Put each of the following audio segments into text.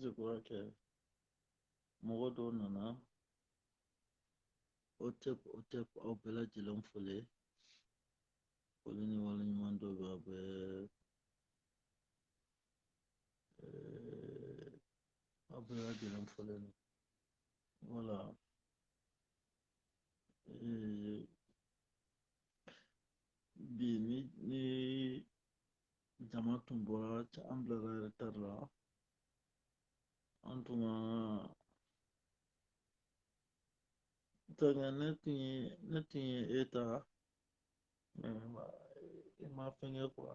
Je crois que Mɔgɔ dɔw nana o tɛ o tɛ aw bɛɛ lajɛlen foli foli ni wale ɲuman dɔn bɛ aw bɛɛ aw bɛɛ lajɛlen foli voilà e, bi ni ni jama tun bɔra an bilara retard la an tun ka donc ne tun ye ne tun ye e ta e ma fɛnkɛ quoi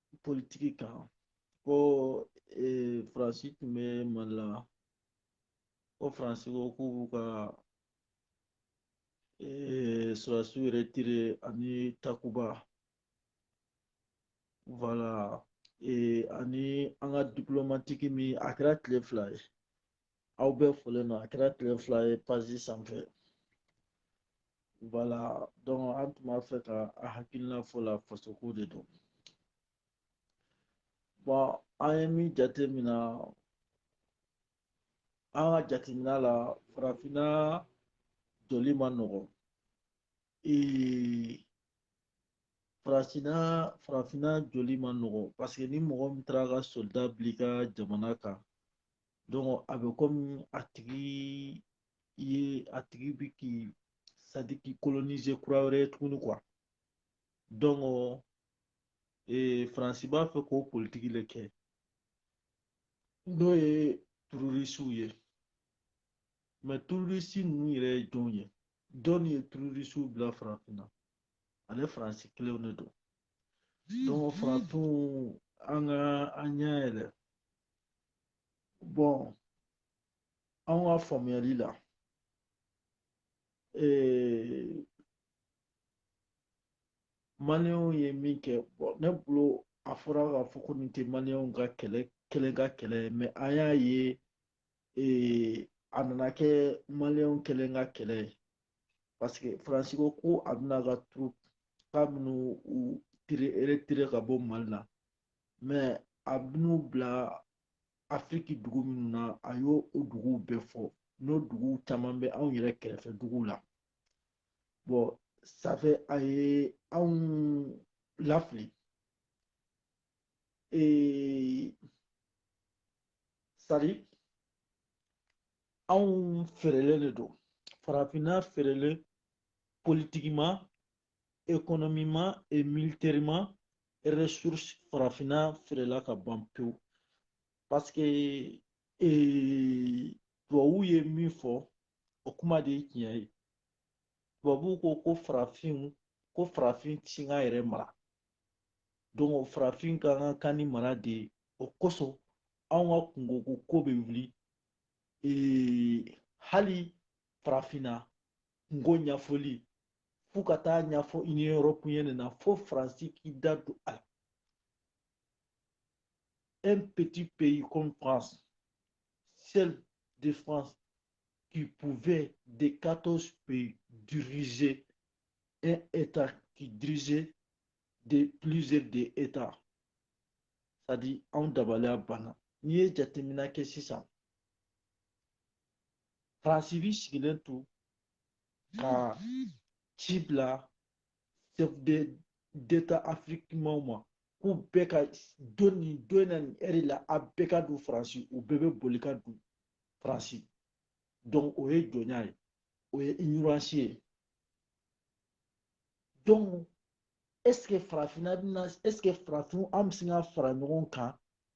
politiki kan ko faransi tun bɛ mali la ko faransi ko k'u b'u ka sɔrɔdasiw retirer ani takuba voilà ani an ka diplomatiki min a kɛra tile fila ye aw bɛɛ folen don a kɛra tile fila ye page sanfɛ voilà donc an tun b'a fɛ ka an hakilina fɔ la fasoko de don bon an ye min jateminɛ an ka jateminɛ la farafinna joli man nɔgɔn ee farafina farafinna joli man nɔgɔn parce que ni mɔgɔ min taara ka soldat bila i ka jamana kan a bɛ komi a tigi ye a tigi bi k'i c'est-à-dire k'i kolonize kura wɛrɛ ye tuguni quoi donc faransi b'a fɛ k'o politiki le kɛ n'o ye terorisiw ye mais terorisi ninnu yɛrɛ ye jɔnw ye jɔn ye terorisiw bila farafinna ale faransi kelenw de don donc farafinw an ka an ɲɛ yɛlɛ bon an ka faamuyali la ee maliyɛnw ye min kɛ bon ne bolo a fɔra k'a fɔ ko nin tɛ maliyɛnw ka kɛlɛ kelen ka kɛlɛ ye mais an y'a ye ee a nana kɛ maliyɛnw kelen ka kɛlɛ ye parce que faransi ko ko a bɛna ka troupe k'a bɛna u tire retirer ka bɔ mali la mais a bɛn'u bila afiriki dugu minnu na a y'o o duguw bɛɛ fɔ n'o duguw caman bɛ anw yɛrɛ kɛrɛfɛ duguw la bon ça fait a ye anw lafili ee c'est à dire anw feerelen de don farafinna feerelen politiquement économiquement et militairement ressources farafinna feerela ka ban pewu parce que tubabuw ye min fɔ o kuma de ye tiɲɛ ye tubabuw ko ko farafinw ko farafin ti se k'a yɛrɛ mara donc farafin ka kan ka ni mara de ye o kosɔn anw ka kunkoko ko bɛ wuli hali farafinna kunko ɲɛfɔli f'u ka taa ɲɛfɔ union européenne na fo faransi k'i da don a la un petit pays comme France seul de France qui pouvait des 14 pays diriger un état qui dirigeait de plusieurs des états c'est à dire anw dabaliya banna n'i ye jateminɛ kɛ sisan faransi bi sigilen to ka ci bila chef d'état afrikimaw ma k'u bɛɛ ka don nin don na nin ɛri la a bɛɛ ka don faransi u bɛɛ bɛ boli ka don faransi donc o ye jɔnya ye o ye ignorance ye donc est ce que farafinna bɛna est ce que farafinw an bɛ se ka fara ɲɔgɔn kan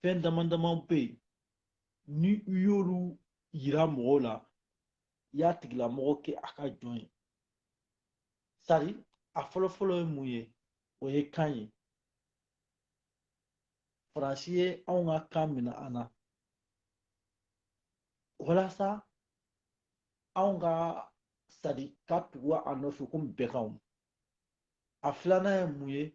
fɛn dama damaw bɛ yen ni i y'olu yira mɔgɔ la i y'a tigilamɔgɔ kɛ a ka jɔn ye c'est à dire a fɔlɔfɔlɔ ye mun ye o ye kan ye faransi ye anw ka kan minɛ an na walasa anw ka c'est à dire ka tugu a nɔfɛ komi bɛɛ kanw a filanan ye mun ye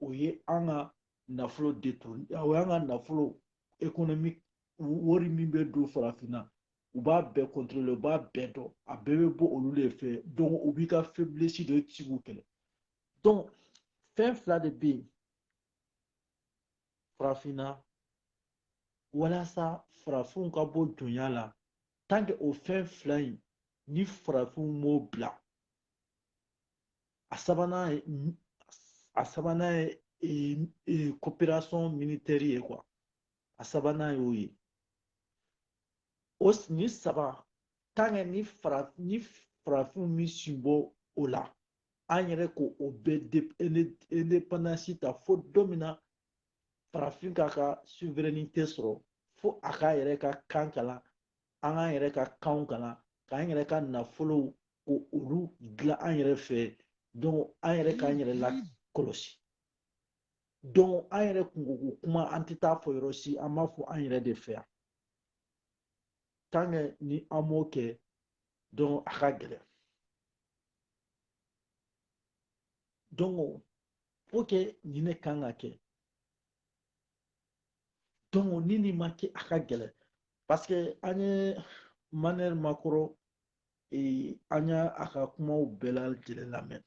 o ye an ka nafolo détourné o y'an ka nafolo économique wari min bɛ don farafinna u b'a bɛɛ contrôler u b'a bɛɛ dɔn a bɛɛ bɛ bɔ olu de fɛ donc u b'i ka faiblesse de ti k'u kɛlɛ donc fɛn fila de bɛ yen farafinna walasa farafinw ka bɔ jɔnya la tant que o fɛn fila in ni farafinw m'o bila a sabanan ye a sabanan ye ee, ee, coopération militaire ye quoi a sabanan y'o ye o nin saba tant que ni fara ni farafinw ma sin bɔ o la an yɛrɛ ko o bɛɛ indépendance ta fo don min na farafin k'a ka souveraineté sɔrɔ fo a k'a yɛrɛ ka kan kalan an k'an yɛrɛ ka kanw kalan k'an yɛrɛ ka nafolow ko olu dilan an yɛrɛ fɛ donc an yɛrɛ k'an yɛrɛ lakɔlɔsi donc an yɛrɛ kunko ko kuma an tɛ t'a fɔ yɔrɔ si an b'a fɔ an yɛrɛ de fɛ yan tant que ni an m'o kɛ donc a ka gɛlɛn donc faut que nin ne kan ka kɛ donc ni nin ma kɛ a ka gɛlɛn parce que an ye emmanuel macron eh, an ye a ka kumaw bɛɛ lajɛlen lamɛn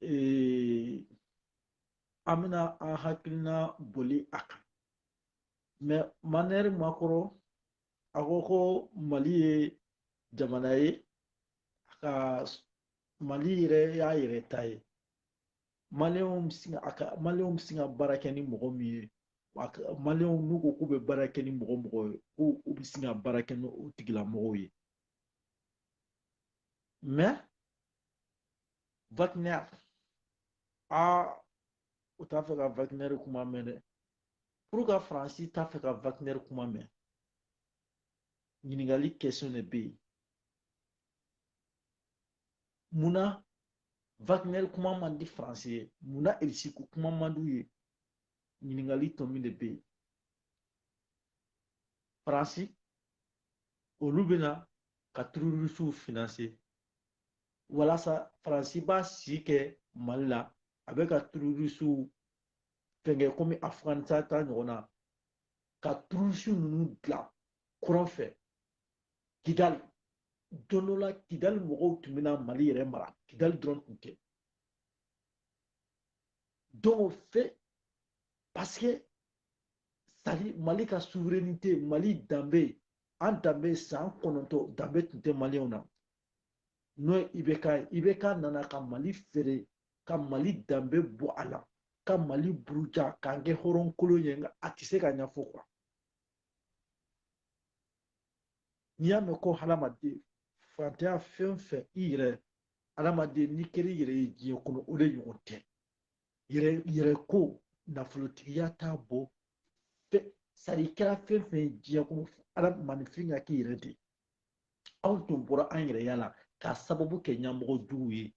eh, an bɛna an hakilina boli a kan mais emmanuel macron a ko ko mali ye jamana ye a ka mali yɛrɛ y'a yɛrɛ ta ye maliyɛnw bɛ sin a ka maliyɛnw bɛ sin ka baara kɛ ni mɔgɔ min ye maliyɛnw n'u ko k'u bɛ baara kɛ ni mɔgɔ o mɔgɔ ye ko u bɛ sin ka baara kɛ ni o tigilamɔgɔw ye mais wagner aa u t'a fɛ ka wagner kuma mɛn dɛ pourquoi faransi t'a fɛ ka wagner kuma mɛn ɲininkali question de bɛ yen mun na wagner kuma man di faransi ye mun na irisi ko kuma man d'u ye ɲininkali tɔ min de bɛ yen faransi olu bɛna ka tururisiw financer walasa faransi b'a si kɛ mali la a bɛ ka tururisiw fɛnkɛ komi afuganisitan ta ɲɔgɔn na ka tururisiw ninnu dilan kɔrɔn fɛ kidali don dɔ la kidali mɔgɔw tun bɛna mali yɛrɛ mara kidali dɔrɔn tun tɛ dɔw fɛ paseke sari mali ka souveraineté mali danbe an danbe san kɔnɔntɔn danbe tun tɛ maliyɛnw na n'o ye ibk ye ibk nana ka mali feere ka mali danbe bɔ a la ka mali buruja k'an kɛ hɔrɔnkolon ye nka a tɛ se ka ɲɛfɔ kuwa n'i y'a mɛn ko hadamaden fantanya fɛn o fɛn i yɛrɛ hadamaden n'i kɛra i yɛrɛ ye diɲɛ kɔnɔ o de ɲɔgɔn tɛ yɛrɛ yɛrɛ ko nafolotigiya t'a bɔ ɛ sari i kɛra fɛn fɛn ye diɲɛ kɔnɔ maaninfin ka k'i yɛrɛ de ye anw tun bɔra an yɛrɛya la k'a sababu kɛ ɲɛmɔgɔ juguw ye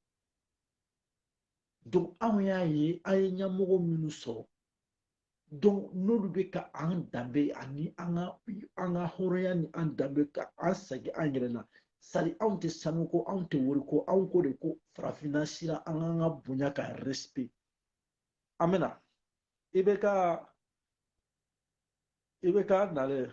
donc anw y'a ye an ye ɲɛmɔgɔ minnu sɔrɔ donc n'olu bɛ ka an danbe ani an ka an ka hɔrɔnya ni an danbe ka an sagi an yɛrɛ la sari anw tɛ sanu ko anw tɛ wari ko anw ko de ko farafinna sira an k'an ka bonya ka respect an bɛ na ibk ibk nalen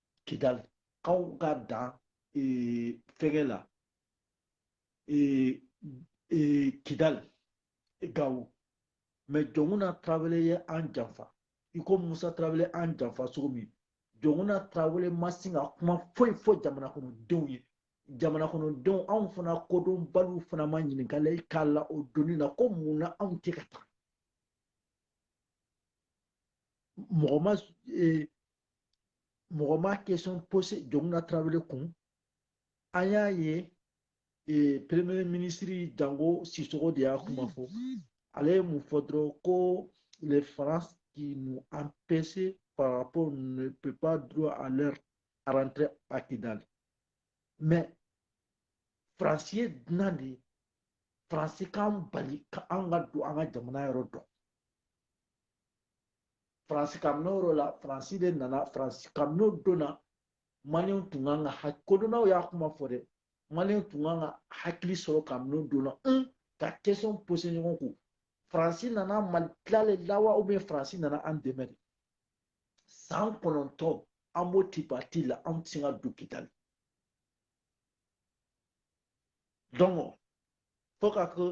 kidali k'anw ka dan fɛnkɛ la kidali gawo mais jɔnkuna tarawele ye an janfa i ko musa tarawele an janfa cogo min jɔnkuna tarawele ma sin ka kuma foyi fɔ jamana kɔnɔdenw ye jamana kɔnɔdenw anw fana kodɔnbaliw fana ma ɲininkali k'a la o don in na ko mun na anw tɛ ka taa mɔgɔ ma e, mɔgɔ ma kesɔn pose jɔnkuna tarawele kun an y'a ye e, premier minisiri jango sisoko de y'a kuma fɔ ale ye mun fɔ dɔrɔn ko la france qui nous empêche par rapport ne peut pas droit à leur rentrer à kidal mais france ye dunan de ye france k'an bali ka an ka don an ka jamana yɔrɔ dɔ faransi kabini o la faransi de nana faransi kabini o don na maliyɛnw tun kan ka hakili kodɔnnaw y'a kuma fɔ dɛ maliyɛnw tun kan ka hakili sɔrɔ kabini o don na an ka kesɔn pose ɲɔgɔn kun faransi nana mali tilali la wa ubiyɛn faransi nana an dɛmɛ de san kɔnɔntɔn an b'o tipati la an ti se ka don kidali donc fo ka kɛ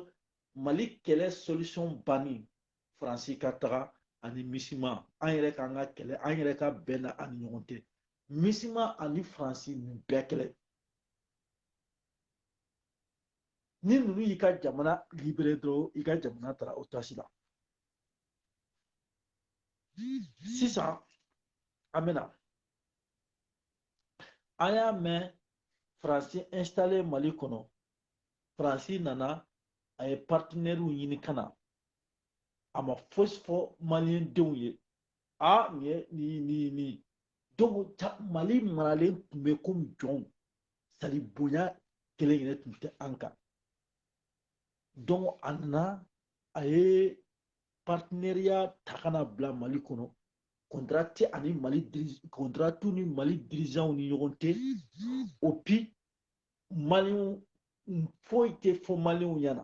mali kɛlɛ solution bannen faransi ka taga ani misima an yɛrɛ k'an ka kɛlɛ an yɛrɛ ka bɛn na an ni ɲɔgɔn tɛ misima ani faransi nin bɛɛ kelen ni ninnu y'i ka jamana libere dɔrɔn i ka jamana taara o tasi la sisan an bɛna an y'a mɛn faransi installé mali kɔnɔ faransi nana a ye partenɛriw ɲini ka na a ma fosi fɔ maliyɛndenw ye a nin ye nin ye nin ye nin ye donc mali maralen tun bɛ komi jɔnw sadi bonya kelen yɛrɛ tun tɛ an kan donc a nana a ye partenariya ta ka na bila mali kɔnɔ kɔntara tɛ a ni mali kɔntara t'u ni mali dirizanw ni ɲɔgɔn tɛ et puis maliyɛnw foyi tɛ fɔ maliyɛnw ɲɛna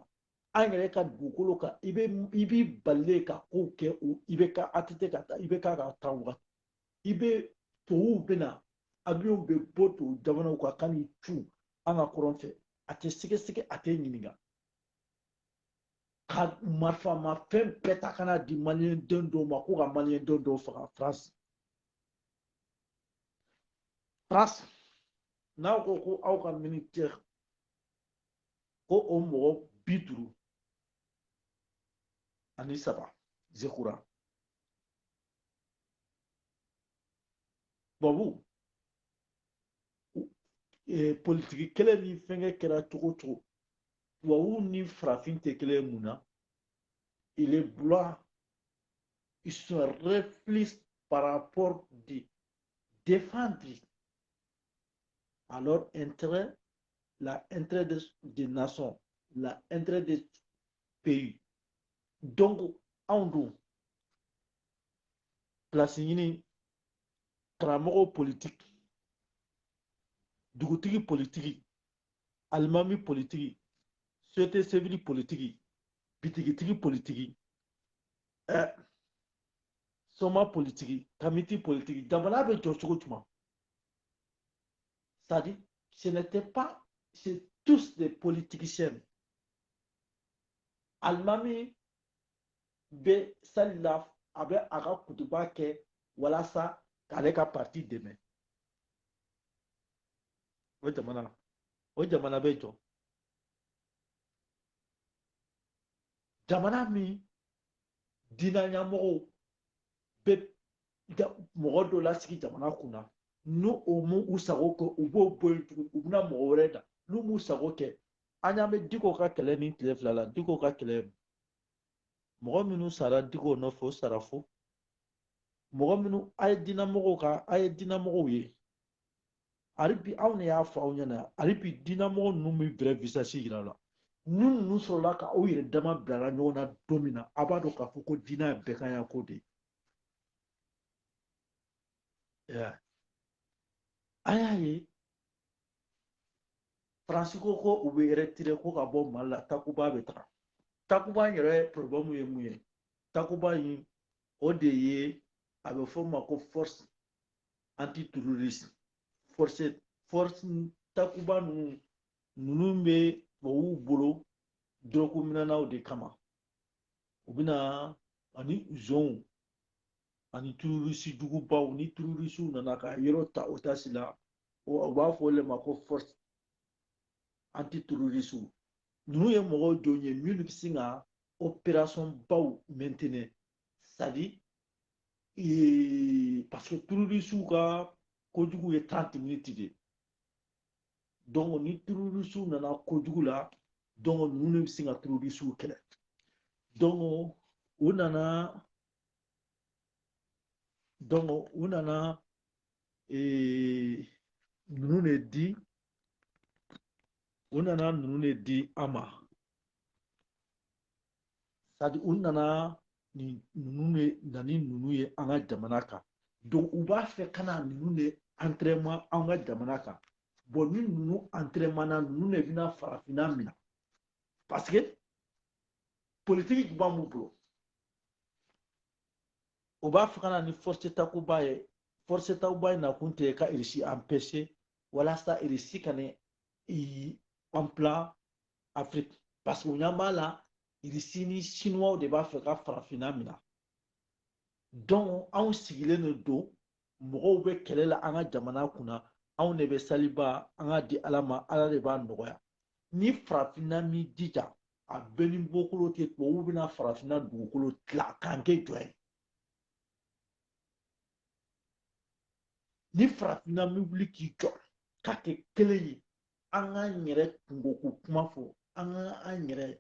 an yɛrɛ ka dugukolo kan i bɛ i b'i balilen ka kow kɛ o IBK ATT ka taa IBK ka taa wagati i bɛ tubabuw bɛ na abiyɔnw bɛ bɔ tubabu jamanaw kan ka n'i cun an ka kɔrɔn fɛ a tɛ sɛgɛsɛgɛ a tɛ ɲininka ka marifamafɛn bɛɛ ta ka na di maliyɛnden dɔw ma ko ka maliyɛnden dɔw faga faransi faransi, n'aw ko ko aw ka militɛri ko o mɔgɔ bi duuru ani saba je crois tubabu eh, politiki kɛlɛ ni fɛnkɛ kɛra cogo cogo tubabu ni farafin tɛ kelen mun na il est blanc ils se réfléchissent par rapport de défendre à leur intérêt, l'intérêt des, des nations, l'intérêt des pays. Donc, en gros, place ɲini karamɔgɔw politiki dugutigi politiki alimami politiki société civile politiki bitigitigi politiki ɛ soma politiki kamiti politiki jamana bɛ jɔ cogo juma c'est à dire ce n'était pas c'est tous des politiciens alimami bɛ sali la a bɛ a ka kutuba kɛ walasa k'ale ka parti dɛmɛ o jamana o jamana bɛ jɔ jamana min dina ɲamɔgɔw bɛ mɔgɔ dɔ lasigi jamana kun na ni o m'u sago kɛ u b'o bɔ yen tugun u bɛna mɔgɔ wɛrɛ da n'u m'u sago kɛ an y'an bɛ diko ka kɛlɛ nin tile fila la diko ka kɛlɛ mɔgɔ minnu sara diko nɔfɛ o sara fu mɔgɔ minnu a ye dinamɔgɔw ka a ye dinamɔgɔw ye hali bi aw ne y'a fɔ aw ɲɛna hali bi dinamɔgɔ ninnu m'i vrai visage yira la ni ninnu sɔrɔla ka aw yɛrɛ dama bilara ɲɔgɔn na don min na a b'a dɔn k'a fɔ ko diinɛ ye bɛɛkanya ko de ye an y'a ye faransi ko ko u bɛ retirer ko ka bɔ mali la takuba bɛ taga takuba in yɛrɛ problème ye mun ye takuba in o de ye a bɛ fɔ o ma ko force anti terroriste force force takuba ninnu ninnu bɛ tubabuw bolo dɔrɔguminɛnaw de kama u bɛna ani zonw ani terroriste jugubaw ni terrorisiw nana ka yɔrɔ ta otage la u b'a fɔ o de ma ko force anti terroriste ninnu ye mɔgɔw jɔn ye minnu bɛ se ka opération baw maintenir c'est à dire ee parce que terrorisiw ka kojugu ye trente minutes de donc ni terrorisiw nana kojugu la donc ninnu de bɛ sin ka terrorisiw kɛlɛ donc u nana donc u nana ee ninnu de di u nana ninnu de di an ma c'est à dire u nana ni ninnu de na ni ninnu ye an ka jamana kan donc u b'a fɛ ka na ninnu de entraînement an ka jamana kan bon ni ninnu entraînement na ninnu de bɛna farafinna minɛ parce que politikiba b'u bolo u b'a fɛ ka na ni force takuba ye force takuba in nakun tɛ ka irisi empêcher walasa irisi kan'i implan afiriki parce que u ɲɛ b'a la irisi ni sinuwaw de b'a fɛ ka farafinna mina donc anw sigilen de don mɔgɔw bɛ kɛlɛ la an ka jamana kunna anw de bɛ saliba an k'a di ala ma ala de b'a nɔgɔya ni farafinna m'i jija a bɛɛ ni bɔkolo tɛ tubabuw bɛna farafinna dugukolo tila k'an kɛ jɔn ye ni farafinna m'i wuli k'i jɔ k'a kɛ kelen ye an k'an yɛrɛ kunko ko kuma fɔ an ka an yɛrɛ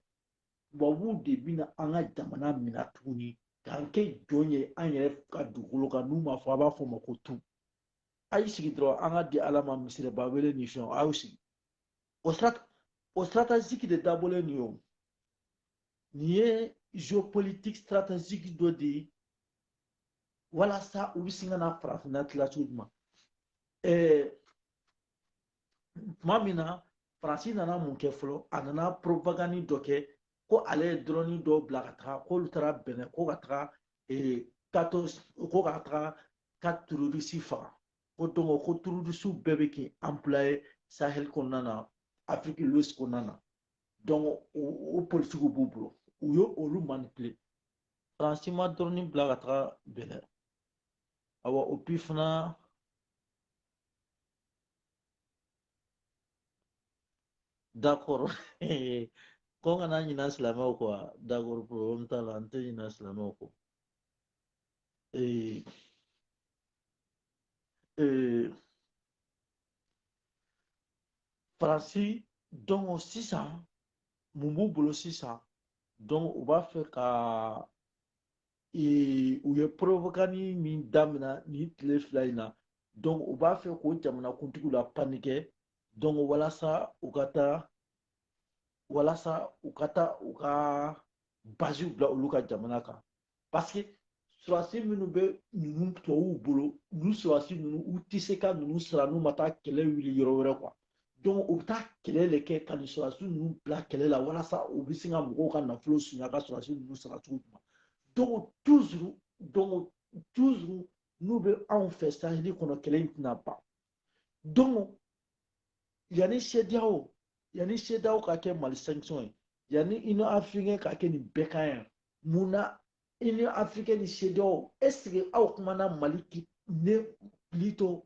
tubabuw de bɛna an ka jamana minɛ tuguni k'an kɛ jɔn ye an yɛrɛ ka dugukolo kan n'u ma fɔ a b'a fɔ ma ko tun a y'i sigi dɔrɔn an k'a di ala ma misiriba wele ni fɛnw a y'u sigi o stratégique de dabɔlen nin ye o nin ye géopolitique stratégique dɔ de ye walasa u bɛ sin ka na farafinna tila cogo jumɛn ɛɛ tuma min na faransi nana mun kɛ fɔlɔ a nana propagande dɔ kɛ ko ale ye dɔrɔni dɔw bila ka taga k'olu taara bɛnɛ ko ka taga ee tato ko ka taga ka terorisi faga ko donc ko terorisiw bɛɛ bɛ k'i anpilaye sahel kɔnɔna na afrique de l'ouest kɔnɔna na donc o politikiw b'u bolo u ye olu manipile faransi ma dɔrɔni bila ka taga bɛnɛ awa et puis fana D'accord. Ko n kana ɲina silamɛw kɔ wa? D'accord problème t'a la, n tɛ ɲina silamɛw kɔ. Ee, ee, Faransi donc sisan mun b'u bolo sisan donc u b'a fɛ ka ee, u ye propagande min damina nin tile fila in na donc u b'a fɛ k'o jamanakuntigiw la panikɛ donc walasa u ka taa walasa u ka taa u ka baziw bila olu ka jamana kan parce que surasi minnu bɛ ninnu tubabuw bolo ninnu surasi ninnu u tɛ se ka ninnu sara n'u ma taa kɛlɛ wuli yɔrɔ wɛrɛ quoi donc u bɛ taa kɛlɛ de kɛ ka nin sɔrɔdasi ninnu bila kɛlɛ la walasa u bɛ se ka mɔgɔw ka nafolo sonya ka sɔrɔdasi ninnu sara cogo min na donc toujours donc toujours n'u bɛ anw fɛ saheli kɔnɔ kɛlɛ in tɛna ban donc yanni sediyawo yanni sediyawo ka kɛ mali sanction ye yanni union africaine ka kɛ nin bɛɛ kan yan mun na union africaine ni sediyawo est ce que aw kumana mali ne plutôt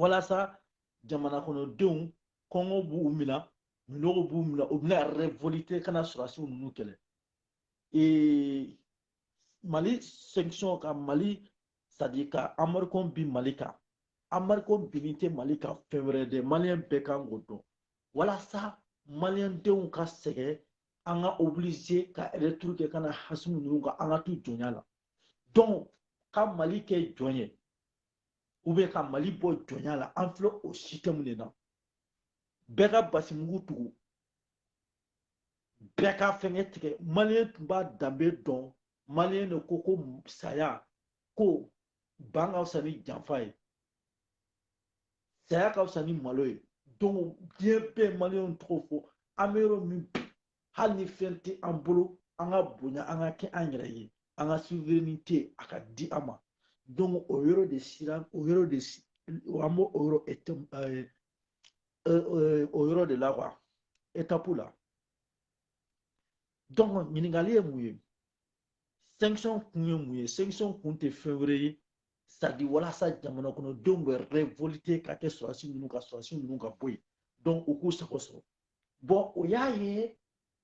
walasa jamana kɔnɔdenw kɔngɔ b'u minɛ minnɔgɔ b'u minɛ u bɛna revolite ka na surasiw ninnu kɛlɛ mali sanction ka mali c'est-à-dire ka embargo bin mali kan embargo binni tɛ mali kan fɛn wɛrɛ dɛ maliyɛn bɛɛ kan k'o dɔn walasa maliyɛndenw ka sɛgɛn an ka oblige ka retour kɛ ka na asimi ninnu kan an ka to jɔnya la donc ka mali kɛ jɔn ye ou bien ka mali bɔ jɔnya la an filɛ o système de na bɛɛ ka basimugu tugu bɛɛ ka fɛngɛ tigɛ maliyɛn tun b'a danbe dɔn maliyɛn de ko ko saya ko ban ka fisa ni janfa ye saya ka fisa ni malo ye donc diɲɛ bɛ maliyɛnw tɔgɔ fɔ an bɛ yɔrɔ min bi hali ni fɛn tɛ an bolo an ka bonya an ka kɛ an yɛrɛ ye an ka souveraineté a ka di an ma donc o yɔrɔ de sira o yɔrɔ de an b'o o yɔrɔ eh, eh, o yɔrɔ de la quoi étape la donc ɲininkali ye mun ye sanction kun ye mun ye sanction kun tɛ fɛn wɛrɛ ye c'est-à-dire walasa jamana kɔnɔdenw bɛ révolter ka kɛ sɔrɔdasi ninnu ka sɔrɔdasi ninnu ka bɔ yen donc u k'u sago sɔrɔ bɔn o y'a ye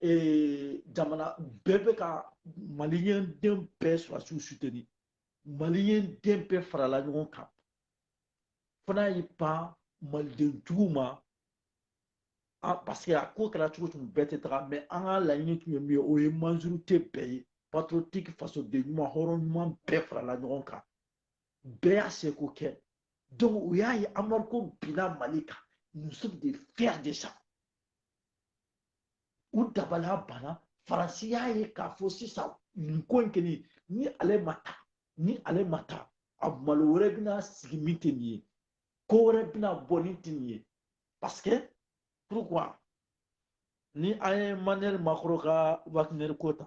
ee, jamana bɛɛ bɛ ka maliyɛnden bɛɛ sɔrɔdasiw soutenir maliyɛnden bɛɛ farala ɲɔgɔn kan fana y'i ban maliden jugu ma ah, parce que a ko kɛra cogo cogo bɛɛ tɛ taga mais an ka laɲini tun ye min ye o ye majorité bɛɛ ye patriotique fasoden ɲuman hɔrɔn ɲuman bɛɛ farala ɲɔgɔn kan bɛɛ y'a seko kɛ donc u y'a ye embargo binna mali kan nous sommes des fiers de ça u dabali banna faransi y'a ye k'a fɔ sisan nin ko in kɛlen ni ale ma taa ni ale ma taa a malo wɛrɛ bɛna sigi min tɛ nin ye ko wɛrɛ bɛna bɔ min tɛ nin ye parce que pourquoi ni an ye emmanuel macron ka wagner ko ta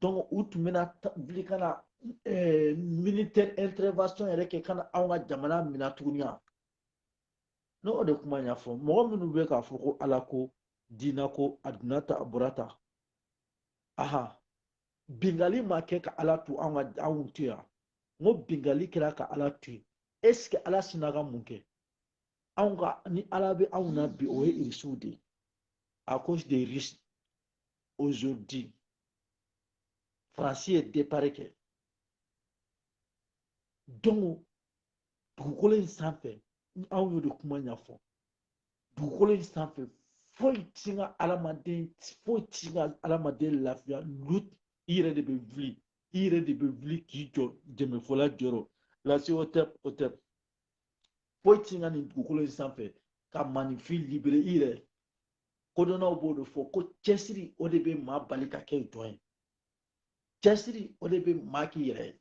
donc u tun bɛna wuli ka na eh, militaire intervention yɛrɛ kɛ ka na anw ka jamana minɛ tuguni yan ne o de kuma ɲɛfɔ mɔgɔ minnu bɛ k'a fɔ ko ala ko diina ko a donna tan a bɔra tan aha binkanni ma kɛ ka ala to anw ka anw to yan n ko binkanni kɛra ka ala to yen est ce que ala sinna ka mun kɛ anw ka ni ala bɛ anw na bi o ye irisiw de ye à cause des russes aujourd'hui faransi ye départ kɛ donc dugukolo in sanfɛ ni anw y'o de kuma ɲɛfɔ dugukolo in sanfɛ foyi ti ka adamaden foyi ti ka adamaden lafiya lutte i yɛrɛ de bɛ wuli i yɛrɛ de bɛ wuli k'i jɔ dɛmɛfɔla jɔyɔrɔ lase o tɛ o tɛ foyi ti ka nin dugukolo in sanfɛ ka maaninfin libérer i yɛrɛ kodɔnnaw b'o de fɔ ko cɛsiri o de bɛ maa bali ka kɛ jɔn ye cɛsiri o de bɛ maa k'i yɛrɛ ye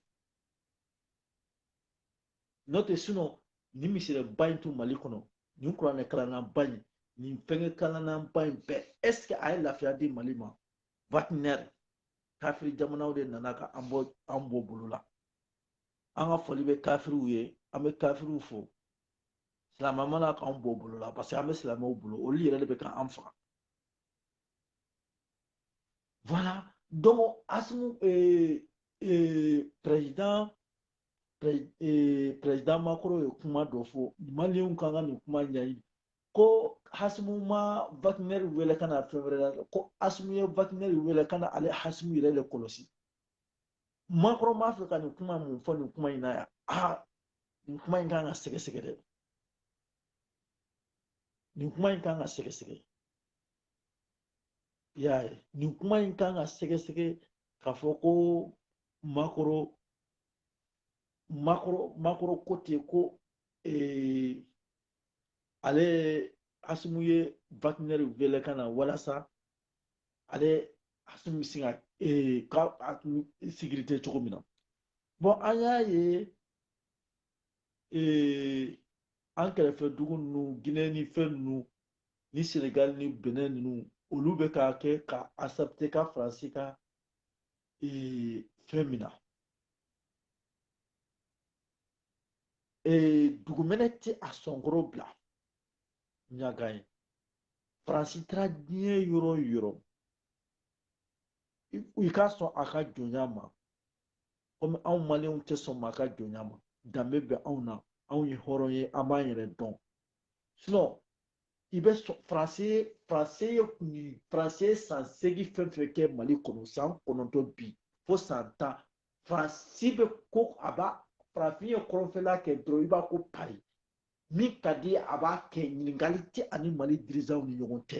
n'o tɛ sinon nin misiriba in tun mali kɔnɔ nin kuranɛ kalannaba in nin fɛngɛ kalannaba in bɛɛ est ce que a ye lafiya di mali ma wagner kafiri jamanaw de nana ka an bɔ an bɔ bolo la an ka foli bɛ kafiriw ye an bɛ kafiriw fo silamɛ ma na k'anw bɔ bolo la parce que an bɛ silamɛw bolo olu yɛrɛ de bɛ ka an faga voilà donc asimu ee ee président ee président macron ye kuma dɔ fɔ maliyɛnw kan ka nin kuma ɲɛɲini ko hasimu ma wagner wele ka na fɛn wɛrɛ la ko asimu ye wagner wele ka na ale hasimu yɛrɛ de kɔlɔsi macron b'a fɛ ka nin kuma mun fɔ nin kuma in na yan aa nin kuma in kan ka sɛgɛsɛgɛ dɛ nin kuma in kan ka sɛgɛsɛgɛ i y'a ye nin kuma in kan ka sɛgɛsɛgɛ k'a fɔ ko macron macron macron ko ten ko ee, ale asimu ye wagner wele ka na walasa ale asimu bɛ se ka ee, ka être en sécurité cogo min na bon an y'a ye ee an kɛrɛfɛ dugu ninnu ginɛ ni fɛn ninnu ni senegali ni benɛn ninnu olu bɛ ka kɛ ka accepter ka faransi ka ee fɛn min na ee dugumɛnɛ tɛ a sɔn kɔrɔ bila ɲaga ye faransi taara diɲɛ yɔrɔ o yɔrɔ i ka sɔn a ka jɔnya ma komi anw maliyɛnw tɛ sɔn maa ka jɔnya ma danbe bɛ anw na anw ye hɔrɔn ye an b'an yɛrɛ dɔn sinon i bɛ sɔn faransi faransi ye kun ye faransi ye san seegin fɛn fɛn kɛ mali kɔnɔ san kɔnɔntɔn bi fo san tan faransi bɛ ko a b'a faransi ye kɔrɔnfɛla kɛ dɔrɔn i b'a ko paris min ka di a b'a kɛ ɲininkali tɛ a ni mali dirigeantw ni ɲɔgɔn cɛ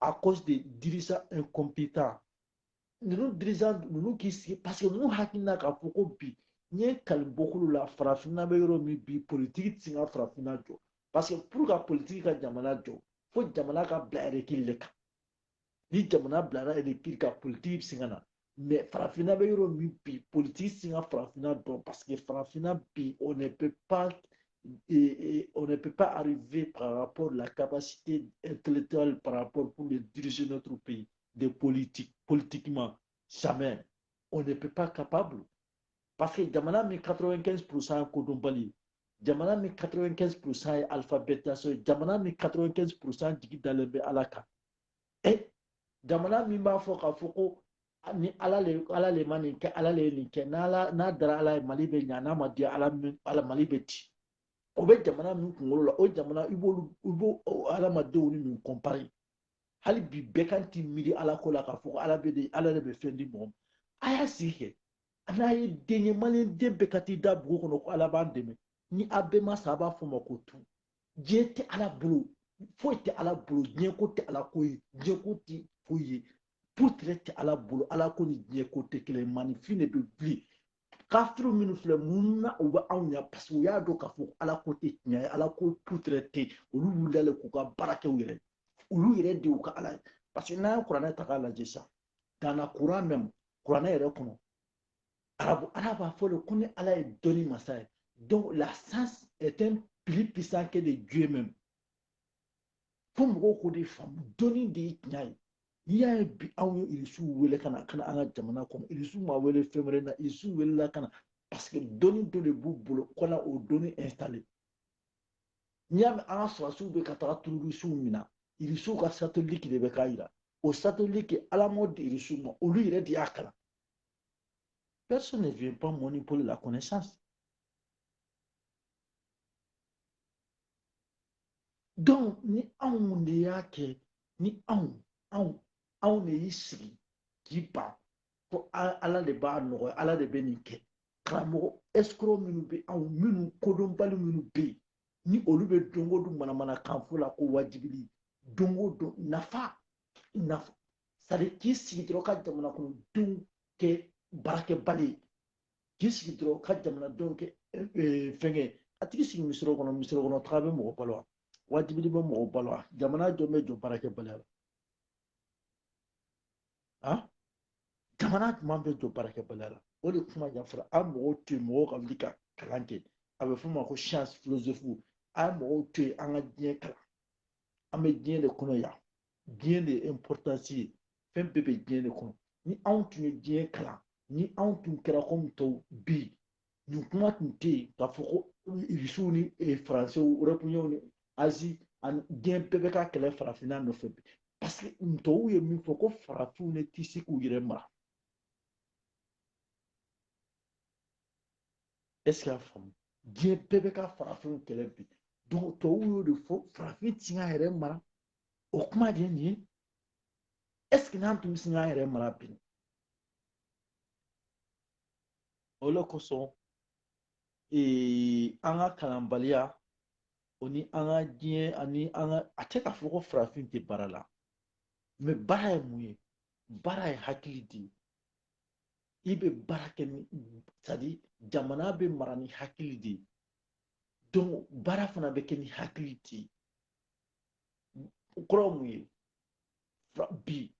à cause des dirigeants incompétents ninnu dirigeant ninnu k'i sigi parce que ninnu hakilina k'a fɔ ko bi n ye kali bɔkolo la farafinna bɛ yɔrɔ min bi politiki ti se ka farafinna jɔ parce que pour ka politiki ka jamana jɔ fo jamana ka bila règle de kan ni jamana bilara règle kan politiki bɛ se ka na mais farafinna bɛ yɔrɔ min bi politiki ti se ka farafinna jɔ parce que farafinna bi on ne peut pas et, et on ne peut pas arriver par rapport à la capacité intellectuelle par rapport pour le diriger notre pays de politique politiquement jamais on ne peut pas capable parce que jamana min 95 pourcent kodɔnbali jamana min 95 pourcent ye alphabétisation ye jamana min 95 pourcent jigi dalen bɛ ala kan e jamana min b'a fɔ k'a fɔ ko ni ala le ala le ma nin kɛ ala le ye nin kɛ n'ala n'a dara ala ye mali bɛ ɲa n'a ma diya ala mali bɛ ci o bɛ jamana min kunkolo la o jamana i b'olu i b'o adamadenw ni min comparer hali bi bɛɛ kan t'i miiri ala ko la k'a fɔ ko ala bɛ de ala de bɛ fɛn di mɔgɔ ma a y'a sigi kɛ n'a ye den ye maliyɛn den bɛɛ ka t'i da bugu kɔnɔ ko ala b'an dɛmɛ ni a bɛɛ ma sa a b'a fɔ o ma ko tu diɲɛ tɛ ala bolo foyi tɛ ala bolo diɲɛ ko tɛ ala ko ye diɲɛ ko tɛ foyi ye putere tɛ ala bolo ala ko ni diɲɛ ko tɛ kelen maninfin de bɛ wuli kafiri minnu filɛ mun na u bɛ anw ɲɛ parce que u y'a dɔn k'a fɔ ala ko tɛ tiɲɛ ye ala ko putere tɛ olu wulila k'u ka baara kɛ u yɛrɛ olu yɛrɛ de y'u ka ala ye parce que n'an ye kuranɛ ta k'a lajɛ sisan dans la Coran même kuranɛ yɛrɛ kɔnɔ ala b'a fɔ de ko ni ala ye dɔnni masa ye donc la science est un plus puissant que de dieu même fo mɔgɔw k'o de faamu dɔnni de ye tiɲɛ ye n'i y'a ye bi anw ye irisiw wele ka na ka na an ka jamana kɔnɔ irisiw ma wele fɛn wɛrɛ la irisiw welela ka na parce que dɔnni dɔ de b'u bolo ka na o dɔnni installer n'i y'a mɛn an ka sɔrɔdasiw bɛ ka taga terɔrisiw minɛ irisiw ka satellite de bɛ k'a jira o satellite ala m'o di irisiw ma olu yɛrɛ de y'a kalan Personne ne vient pas manipuler la connaissance. Donc, ni anw de y'a kɛ ni anw anw anw de y'i sigi k'i b'a fɔ ala de b'a nɔgɔya ala de bɛ nin kɛ karamɔgɔ escroc minnu bɛ anw minnu kodɔnbali minnu bɛ yen ni olu bɛ don o don manamanakan fɔ la ko wajibili don o don nafa c'est-à-dire k'i sigi dɔrɔn ka jamana kɔnɔ denw kɛ baarakɛbali ye k'i sigi dɔrɔn ka jamana denw kɛ fɛnkɛ a tigi sigi misiri kɔnɔ misiri kɔnɔ taga bɛ mɔgɔ balo wa wajibili bɛ mɔgɔ balo wa jamana jɔn bɛ jɔ baarakɛbaliya la a jamana jumɛn bɛ jɔ baarakɛbaliya la o de kuma ɲɛfɔra a mɔgɔw to yen mɔgɔw ka wuli ka kalan kɛ a bɛ f'o ma ko science philosophe a ye mɔgɔw to yen an ka diɲɛ kalan an bɛ diɲɛ de kɔnɔ yan diɲɛ de ye importance ye fɛn bɛɛ bɛ diɲɛ de kɔnɔ ni anw tun ye diɲɛ kalan ni anw tun kɛra komi tɔw bi nin kuma tun tɛ yen k'a fɔ ko irisiw ni eh, faransɛw européens ni azi ani diɲɛ bɛɛ bɛ ka kɛlɛ farafinna nɔfɛ bi parce que ntɔw ye min fɔ ko farafinw ne tɛ se k'u yɛrɛ mara ɛseke y'a faamu diɲɛ bɛɛ bɛ ka farafinw kɛlɛ bi donc tɔw y'o de fɔ farafin ti se k'a yɛrɛ mara o kuma de ye nin ye ɛseke n'an tun bɛ se k'an yɛrɛ mara bi o de kosɔn an ka kalanbaliya o ni an ka diɲɛ ani an ka a tɛ k'a fɔ ko farafin tɛ baara la mais baara ye mun ye baara ye hakili de i bɛ baara kɛ ni c'est-à-dire jamana bɛ mara ni hakili de ye donc baara fana bɛ kɛ ni hakili de ye o kɔrɔ mun ye bi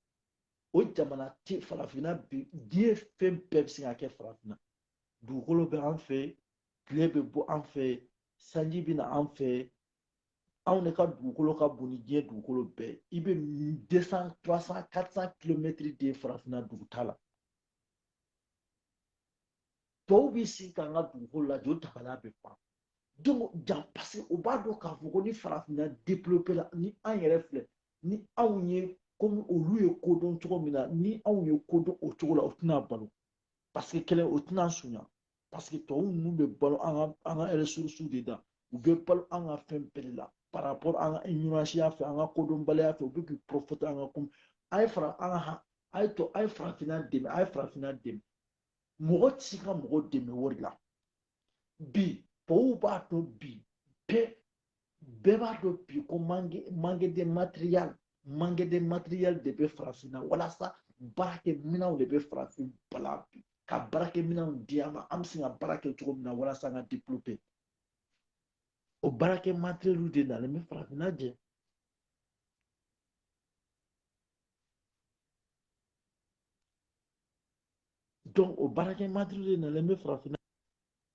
o jamana tɛ farafinna bi diɲɛ fɛn bɛɛ bɛ se ka kɛ farafinna dugukolo bɛ an fɛ tile bɛ bɔ an fɛ sanji bɛ na an fɛ anw de ka dugukolo ka bon ni diɲɛ dugukolo bɛɛ i bɛ 200 300 400 kilomɛtiri de farafinna dugutaa la tɔw b'i sigi k'an ka dugukolo lajɛ o dabali bɛ ban donc ja paseke u b'a dɔn k'a fɔ ko ni farafinna développé la ni an yɛrɛ filɛ ni anw ye komi olu ye ko dɔn cogo min na ni anw ye ko dɔn o cogo la o tɛna balo paseke kelen o tɛna sunya paseke tɔw ninnu bɛ balo an ka an ka ɛrɛsurusiw de da u bɛ balo an ka fɛn bɛɛ de la par rapport an ka iɲɔransiya fɛ an ka kodɔnbaliya fɛ u bɛ k'i profiter an ka kun a ye fara an kan a ye to a ye farafinna dɛmɛ a ye farafinna dɛmɛ mɔgɔ tɛ se ka mɔgɔ dɛmɛ wari la bi tɔw b'a dɔn bi bɛɛ bɛɛ b'a dɔn bi ko manque de matériel manque de matériel de bɛ farafinna walasa baarakɛminɛnw de bɛ farafin bala bi ka baarakɛminɛnw di an ma an bɛ se ka baara kɛ cogo min na walasa an ka développer o baarakɛ matériel de nalen bɛ farafinna jɛ donc o baarakɛ matériel de nalen bɛ farafinna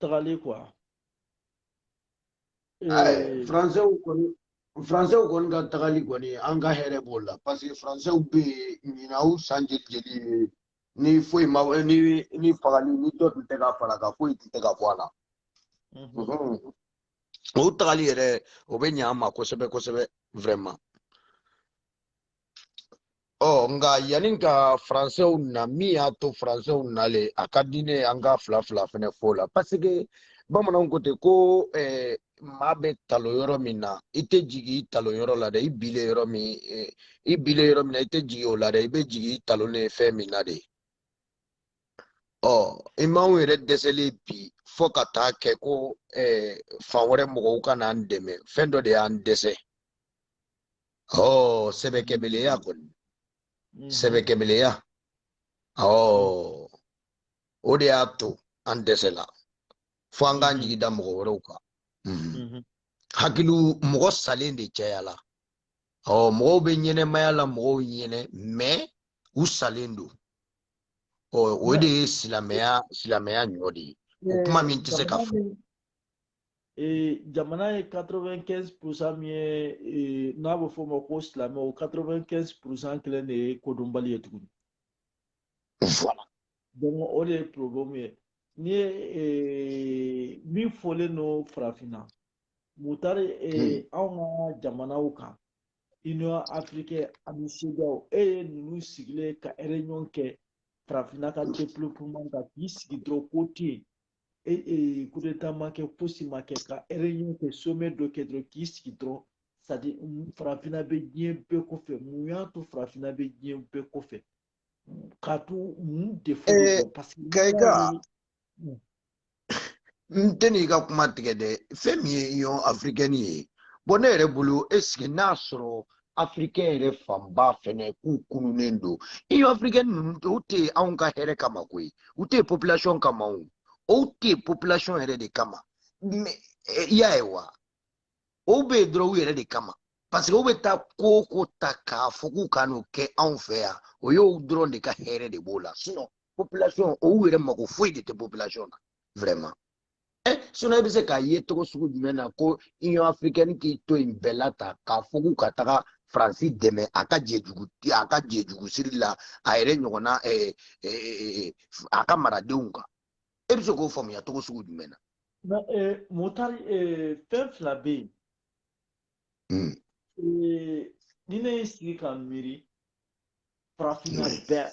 tagali quoi faransew kɔni faransew kɔni ka tagali kɔni an ka hɛrɛ b'o la parce que faransew bɛ yen ɲinan u san jeli jeli ni foyi ma ni ni fagali ni dɔ tun tɛ ka far'a kan foyi tun tɛ ka bɔ a la o tagali yɛrɛ o bɛ ɲɛ an ma kosɛbɛ kosɛbɛ vraiment ɔ nka yanni ka faransɛw na min y'a to faransɛw nalen a ka di ne an ka fila fila fɛnɛ fɔ la paseke bamananw ko ten ko eh, maa bɛ talon yɔrɔ min na i tɛ jigin i talon yɔrɔ la dɛ i binnen yɔrɔ min eh, i binnen yɔrɔ min na i tɛ jigin o la dɛ i bɛ jigin i talonnen fɛn min na de ɔ anw yɛrɛ dɛsɛlen bi fo ka taa kɛ ko eh, fan wɛrɛ mɔgɔw ka n'an dɛmɛ fɛn dɔ de y'an dɛsɛ Oh, sɛbɛkɛbaliya kɔni. Mm-hmm. Sɛbɛkɛbaliya. Oh. O de y'a to an dɛsɛla. Fo an k'an jigi da mɔgɔ wɛrɛw kan. Mm-hmm. Mm-hmm. Hakili mɔgɔ salen de cayala. Oh, mɔgɔw bɛ ɲɛnɛmaya la mɔgɔw ɲɛnɛma u salen don. Oh, o de ye silamɛya ɲɔ de ye. O kuma min tɛ se ka fɔ. ee jamana ye 95 pourcent min ye ee, n'a bɛ fɔ o ma ko silamɛ o 95 pourcent kelen de ye kodɔnbali ye tuguni voilà donc o de ye problème ye n'i ye ee, min fɔlen don farafinna mutari ee, hmm. anw ka jamanaw kan union africaine ani CEDEAO e ye ninnu sigilen ka réunion kɛ farafinna ka développement kan k'i sigi dɔrɔn ko tɛ yen coup d'état ma kɛ fosi ma kɛ ka réunion kɛ sommet dɔ kɛ dɔrɔn k'i sigi dɔrɔn c'est-à-dire farafinna bɛ diɲɛ bɛɛ kɔfɛ mun y'a to farafinna bɛ diɲɛ bɛɛ kɔfɛ k'a to mun de fɔ parce que kɛka n tɛn'i ka kuma tigɛ dɛ fɛn min ye union africaine ye bɔn ne yɛrɛ bolo est-ce que n'a sɔrɔ africain yɛrɛ fanba fɛnɛ k'u kununnen don union africaine ninnu u tɛ anw ka hɛrɛ kama koyi u tɛ population kama o o tɛ population yɛrɛ de kama eh, i y'a ye wa o bɛ yen dɔrɔn u yɛrɛ de kama parce que u bɛ taa ko o ko ta k'a fɔ k'u ka n'o kɛ anw fɛ yan o y'o dɔrɔn de ka hɛrɛ de b'o la sinon population o yɛrɛ mako foyi de tɛ population na vraiment. ɛ sinon e bɛ se k'a ye cogo sugu jumɛn na ko union africaine k'i to yen bɛɛ la ta k'a fɔ k'u ka taga faransi dɛmɛ a ka jɛjugu a ka jɛjugu siri la a yɛrɛ ɲɔgɔnna ɛɛ ɛɛ a ka maradenw kan e bɛ se k'o faamuya cogo sugu jumɛn na. mutari fɛn fila bɛ yen. Hmm. ni ne y'i sigi ka miiri farafinna bɛɛ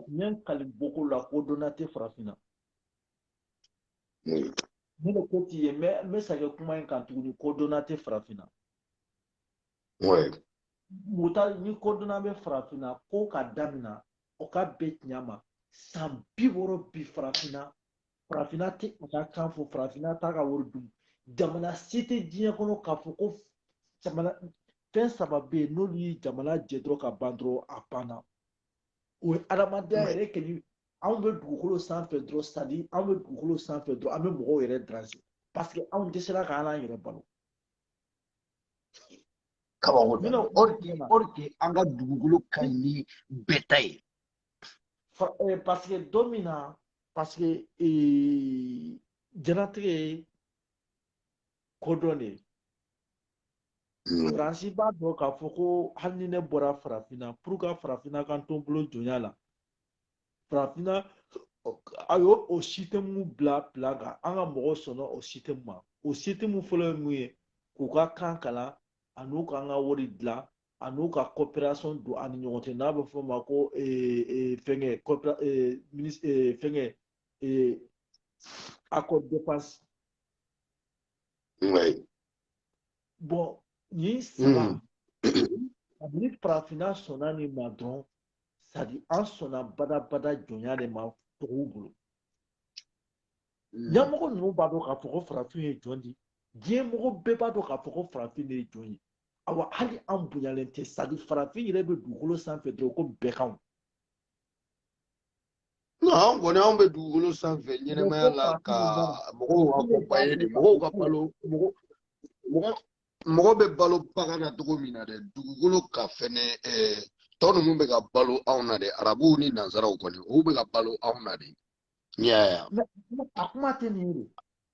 n ye n kali boko la kodɔnna tɛ farafinna. ne de ko t'i ye n bɛ segin kuma in kan tuguni kodɔnna tɛ farafinna mutari ni kodɔnna bɛ farafinna ko ka damina o ka bɛn tiɲɛ ma san bi wɔɔrɔ bi farafinna farafinna tɛ a ka kan fɔ farafinna t'a ka wari dun jamana si tɛ diɲɛ kɔnɔ k'a fɔ ko jamana fɛn saba bɛ yen n'olu ye jamana jɛ dɔrɔn ka ban dɔrɔn a banna o ye adamadenya yɛrɛ kɛli anw bɛ dugukolo sanfɛ dɔrɔn c'est-à-dire anw bɛ dugukolo sanfɛ dɔrɔn an bɛ mɔgɔw yɛrɛ déranger parce que anw dɛsɛra k'an yɛrɛ balo kabako don or que an ka dugukolo ka ɲi ni bɛɛ ta ye eh, parce que don min na parce que eh, jɛnatigɛ ye kodɔn de ye hmm. faransi b'a dɔn k'a fɔ ko hali ni ne bɔra farafinna pour que farafinna ka to n bolo jɔnya la farafinna a y'o système bila bila kan an ka mɔgɔw sɔnna o système ma o système fɔlɔ ye mun ye k'u ka kan kalan ani u k'an ka wari dilan ani u ka coopération don an ni ɲɔgɔn cɛ n'a bɛ f'o ma ko fɛngɛ fɛngɛ accord défense bon nin saba ni farafinna sɔnna nin ma dɔrɔn c'est-à-dire an sɔnna badabada jɔnya de ma tɔgɔw bolo ɲɛmɔgɔ hmm. ninnu b'a dɔn k'a fɔ ko farafin ye jɔn di diɲɛ mɔgɔ bɛɛ b'a dɔn k'a fɔ ko farafin de ye jɔn ye awa hali an bonyalen tɛ c'est-à-dire farafin yɛrɛ bɛ dugukolo sanfɛ dɔrɔn ko bɛɛ kanw an kɔni anw bɛ dugukolo sanfɛ ɲɛnamaya la ka mɔgɔw accompagner de mɔgɔw ka balo mɔgɔ mɔgɔ bɛ balo bagan na cogo min na dɛ dugukolo kan fɛnɛ eh, tɔ ninnu bɛ ka balo anw na dɛ arabuw ni nansaraw kɔni olu bɛ ka balo anw na de yaya a kuma tɛ nin ye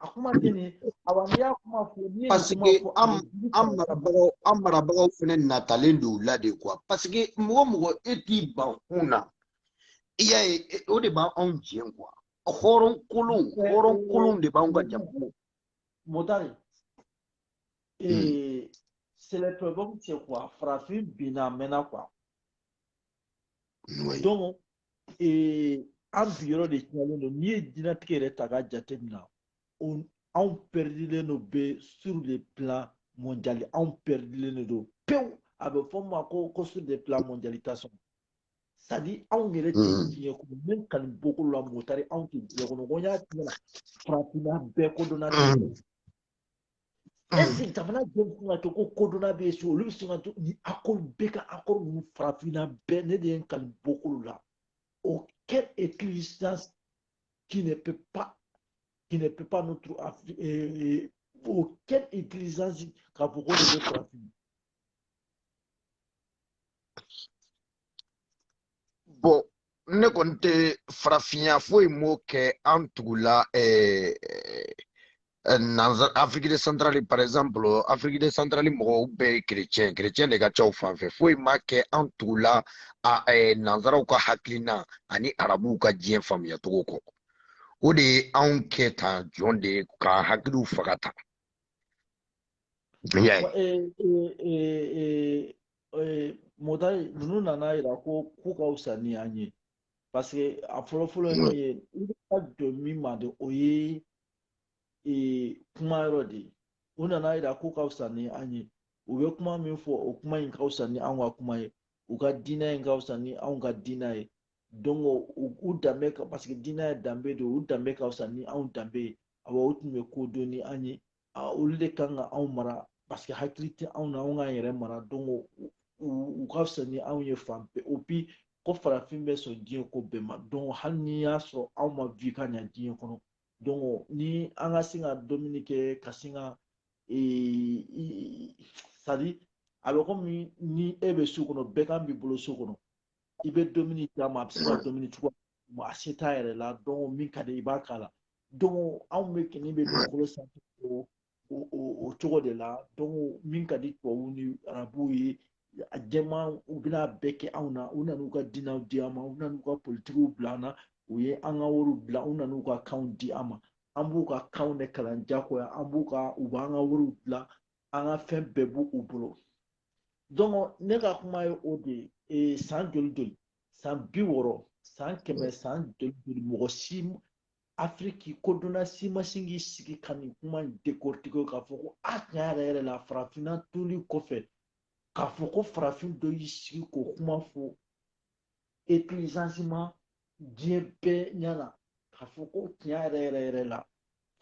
a kuma tɛ nin ye awa n'i y'a kuma fɔ n'i ye parce que an an marabagaw an marabagaw fɛnɛ natalen don u la de quoi parce que mɔgɔ mɔgɔ e t'i ban kun na i y'a ye o de b'anw jɛ quoi hɔrɔn kolon hɔrɔn kolon de b'anw ka jamana motari hmm. ee c'est le problème c'est quoi farafin binna a mɛnna quoi donc ee an bi yɔrɔ de tiɲɛlen don n'i ye diɲɛnatigɛ yɛrɛ ta k'a jateminɛ anw pɛridilen don bɛ sur le plan mondial anw pɛridilen de don pewu a bɛ fɔ min ma ko ko sur le plan mondialisation c'est-à-dire anw yɛrɛ tɛ diɲɛ kɔnɔ ne kanu boko la motari anw tɛ diɲɛ kɔnɔ ko n y'a tiɲɛ na farafinna bɛɛ kodɔnna tɛ est-ce que jamana jɔn bɛ se ka to ko kodɔnna bɛ yen so olu bɛ se ka to ni accord bɛ ka accord ninnu farafinna bɛɛ ne de ye n kanu boko la aucune existence qui ne peut pas qui ne peut pas notre aucune utilisation k'a fɔ ko de bɛ farafin bon ne kɔni tɛ farafinya foyi m'o kɛ an tugula eh, eh, nanzara Afrique de centrale par exemple Afrique de centrale mɔgɔw bɛɛ ye kerecɛn kerecɛn de ka ca u fan fɛ foyi ma kɛ an tugula a eh, nanzaraw ka hakilina ani arabuw ka diɲɛ faamuya cogo kɔ o de ye anw kɛ tan jɔn de k'an hakiliw faga tan Nyaye. Eh, eh, eh, eh, mɔgɔ ninnu nana yira ko k'u ka fisa ni an ye parce que a fɔlɔ fɔlɔ ye min ye i bɛ ka jɔ min ma de o ye eh, kuma yɔrɔ de ye u nana yira k'u ka fisa ni an ye u bɛ kuma min fɔ o kuma in ka fisa ni anw ka kuma ye u ka diinɛ in ka fisa ni anw ka diinɛ ye donc u u danbe ka parce que diinɛ ye danbe de ye u danbe ka fisa ni anw danbe ye awɔ u tun bɛ ko dɔn ni an ye olu de kan ka anw mara parce que hakili tɛ anw na anw k'an yɛrɛ mara donc u ka fisa ni anw ye fan bɛɛ o bi ko farafin bɛ sɔn diɲɛ ko bɛɛ ma donc hali n'i y'a sɔrɔ anw ma vi ka ɲa diɲɛ kɔnɔ donc ni an ka sin ka dumuni kɛ ka sin ka c'est-à-dire a bɛ komi ni e bɛ so kɔnɔ bɛgan b'i bolo so kɔnɔ i bɛ dumuni d'a ma a bɛ se ka dumuni sɔrɔ mais a se t'a yɛrɛ la donc min ka di i b'a k'a la donc anw bɛɛ kɛlen bɛ dugukolo sanfɛ o o cogo de la donc min ka di tubabuw ni arabuw ye a jɛmanw bɛn'a bɛɛ kɛ anw na u nan'u ka diinɛw di an ma u nan'u ka politikiw bila an na u ye an ka wariw bila u nan'u ka kanw di an ma an b'u ka kanw de kalan jagoya an b'u ka u b'an ka wariw dilan an ka fɛn bɛɛ b'u u bolo donc ne ka kuma ye o de ye ee san joli joli san bi wɔɔrɔ san kɛmɛ san joli joli mɔgɔ si afiriki kodɔnna si ma sin k'i sigi ka nin kuma in décortiquer k'a fɔ ko a tiɲɛ yɛrɛ yɛrɛ la farafinna toli kɔfɛ k'a fɔ ko farafin dɔ y'i sigi k'o kuma fɔ etilizansiman diɲɛ bɛɛ ɲɛna k'a fɔ ko tiɲɛ yɛrɛ yɛrɛ yɛrɛ la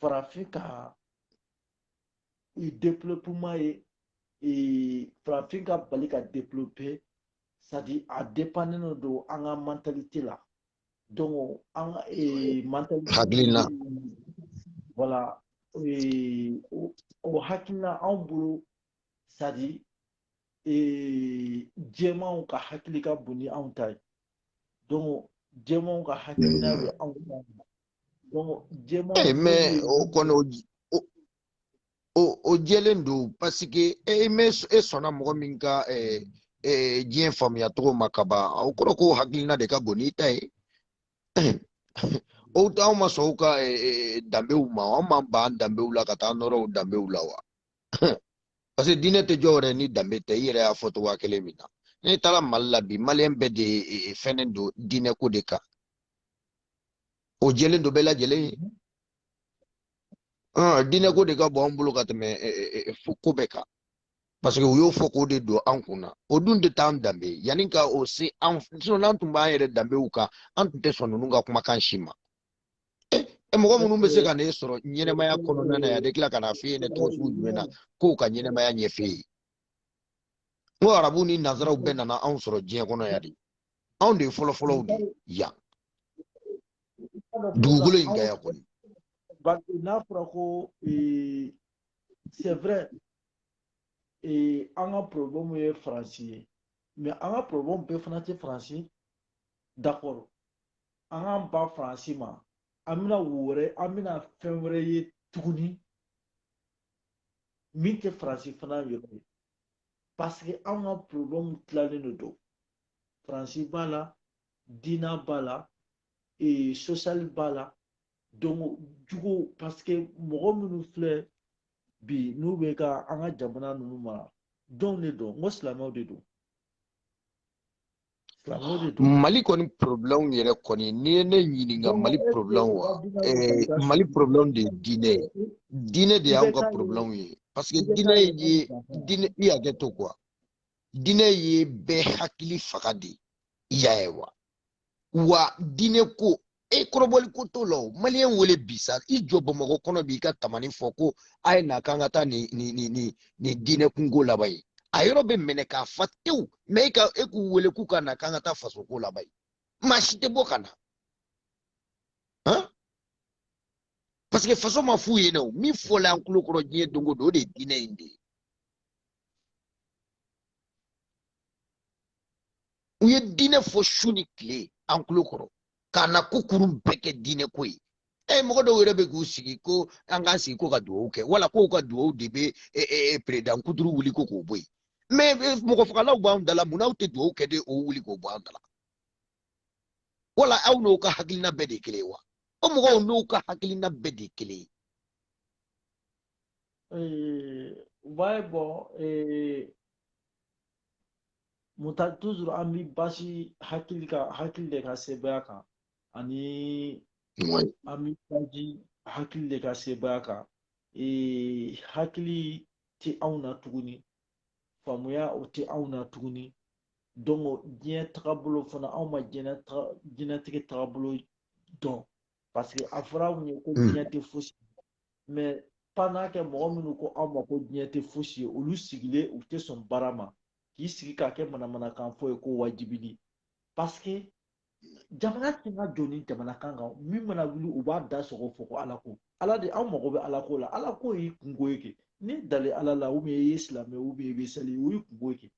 farafin ka i développement ye ee farafin ka bali ka développer c'est-à-dire a dépendene don an ka mentalité la donc an ka ee mentalité hakilina voilà ee o hakilina anw bolo c'est-à-dire ee jɛmanw ka hakili ka bon ni anw ta ye donc jɛmanw ka hakilina bɛ anw ta Donc, jɛman. Ee eh, mais o kɔni o o o jɛlen don parce que e me e sɔnna mɔgɔ min ka eh, eh, diɲɛ faamuya cogo ma ka ban o kɔrɔ ko hakilina de ka bon n'i ta ye o anw ma sɔn u ka danbew ma anw m'an ban danbew la ka taa nɔrɔ u danbew la wa parce que diinɛ tɛ jɔ yɛrɛ ni danbe tɛ i yɛrɛ y'a fɔ cogoya kelen min na n'i taara mali la bi maliyɛn bɛɛ de fɛnnen don diinɛ ko de kan o jɛlen don bɛɛ lajɛlen ye diinɛko de ka bon an bolo ka tɛmɛ ko bɛɛ kan parce que u y'o fɔ k'o de don an kun na o dun tun t'an danbe ye yanni ka o se an n'an tun b'an yɛrɛ danbew kan an tun tɛ sɔn ninnu ka kumakan si ma e mɔgɔ minnu bɛ se ka ne sɔrɔ ɲɛnɛmaya kɔnɔna na yan de tila ka na f'i ye ne tɔgɔ sugu jumɛn na k'o ka ɲɛnɛmaya ɲɛf'e ye n ko arabu ni nanzaraw bɛɛ nana anw sɔrɔ diɲɛ kɔnɔ yan de anw de ye fɔlɔfɔlɔw de yan dugukolo in kan yan kɔni n'a fɔra ko eh, c'est vrai eh, an ka problème ye faransi ye mais an ka problème bɛɛ fana tɛ faransi d'accord an k'an ban faransi ma an bɛna wo wɛrɛ an bɛna fɛn wɛrɛ ye tuguni min tɛ faransi fana yɔrɔ ye parce que an ka problème tilalen de don faransi b'a la dina b'a la e, social b'a la donc jugu parce que mɔgɔ minnu filɛ bi n'u bɛ ka an ka jamana ninnu mara jɔn de don n ko silamɛw de don mali kɔni problème yɛrɛ kɔni n'i ye ne ɲininka mali problème wa eh, mali problème de ye diinɛ ye diinɛ de y'anw ka problème ye parce que diinɛ ye diinɛ i hakɛ to quoi diinɛ ye bɛɛ hakili faga de y'a ye wa wa diinɛ ko e kɔrɔbɔli ko t'o la o maliyɛn wele bi sa i jɔ bamakɔ kɔnɔ b'i ka tamani fɔ ko a ye na k'an ka taa nin nin nin nin nin diinɛ kunko laban ye a yɔrɔ bɛ minɛ k'a fa tewu mais e ka e k'u wele k'u ka na k'an ka taa faso ko laban ye maa si tɛ bɔ ka na parce que faso ma f'u ye dɛ min fɔla an tulo kɔrɔ diɲɛ don o don o de ye diinɛ in de ye u ye diinɛ fɔ su ni tile an tulo kɔrɔ k'a na ko kurun bɛɛ kɛ diinɛ ko ye e mɔgɔ dɔw yɛrɛ bɛ k'u sigi ko an k'an sigi ko ka dugawu kɛ wala k'u ka dugawu de bɛ e, e, e, président kuturu wuli ko k'o bɔ yen mais mɔgɔ fagalaw b'an da la mun n'aw tɛ dugawu kɛ de o wuli k'o bɔ an da la wala aw n'o ka hakilina bɛɛ de ye kelen ye wa o mɔgɔw n'u ka hakilina bɛɛ de ye kelen ye Eh, ouais, bon, eh, mun ta toujours an bi basi hakili ka hakili de ka sebaaya kan ani Ouais. an bi baji hakili de ka sebaaya kan Eh, hakili tɛ anw na tuguni faamuya o tɛ anw na tuguni donc o diɲɛ tagabolo fana anw ma diɲɛ taga- diɲɛnatigɛ tagabolo dɔn parce que a fɔra anw ye ko Mm. diɲɛ tɛ fosi mais pendant que mɔgɔ minnu ko anw ma ko diɲɛ tɛ fosi ye olu sigilen u tɛ sɔn baara ma k'i sigi k'a kɛ manamanakan fɔ ye ko wajibili parce que jamana tɛna jɔ ni jamana kan kan min mana wuli u b'a da sɔgɔ fɔ ko ala ko ala de anw mago bɛ ala ko la ala ko y'i kunko ye kɛ n'i dalen ala la ou bien i ye silamɛ ou bien i bɛ seli o y'i kunko ye kɛ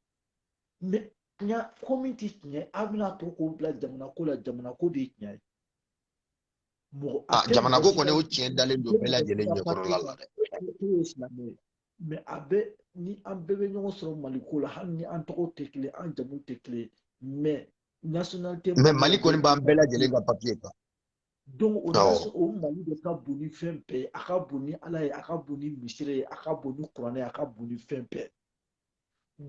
mais tiɲɛ ko min tɛ tiɲɛ an bɛna to k'o bila jamana ko la jamana ko de ye tiɲɛ ye Ah, jamana ko kɔni o tiɲɛ dalen don bɛɛ lajɛlen ɲɛkɔrɔla la dɛ mais a bɛ ni an bɛɛ bɛ ɲɔgɔn sɔrɔ mali ko la hali ni an tɔgɔ tɛ kelen an jamu tɛ kelen mais nationalité mais mali kɔni b'an bɛɛ lajɛlen ka papier kan donc o o mali de ka bon ni fɛn bɛɛ ye a ka bon ni ala ye a ka bon ni misiri ye a ka bon ni kuranɛ ye a ka bon ni fɛn bɛɛ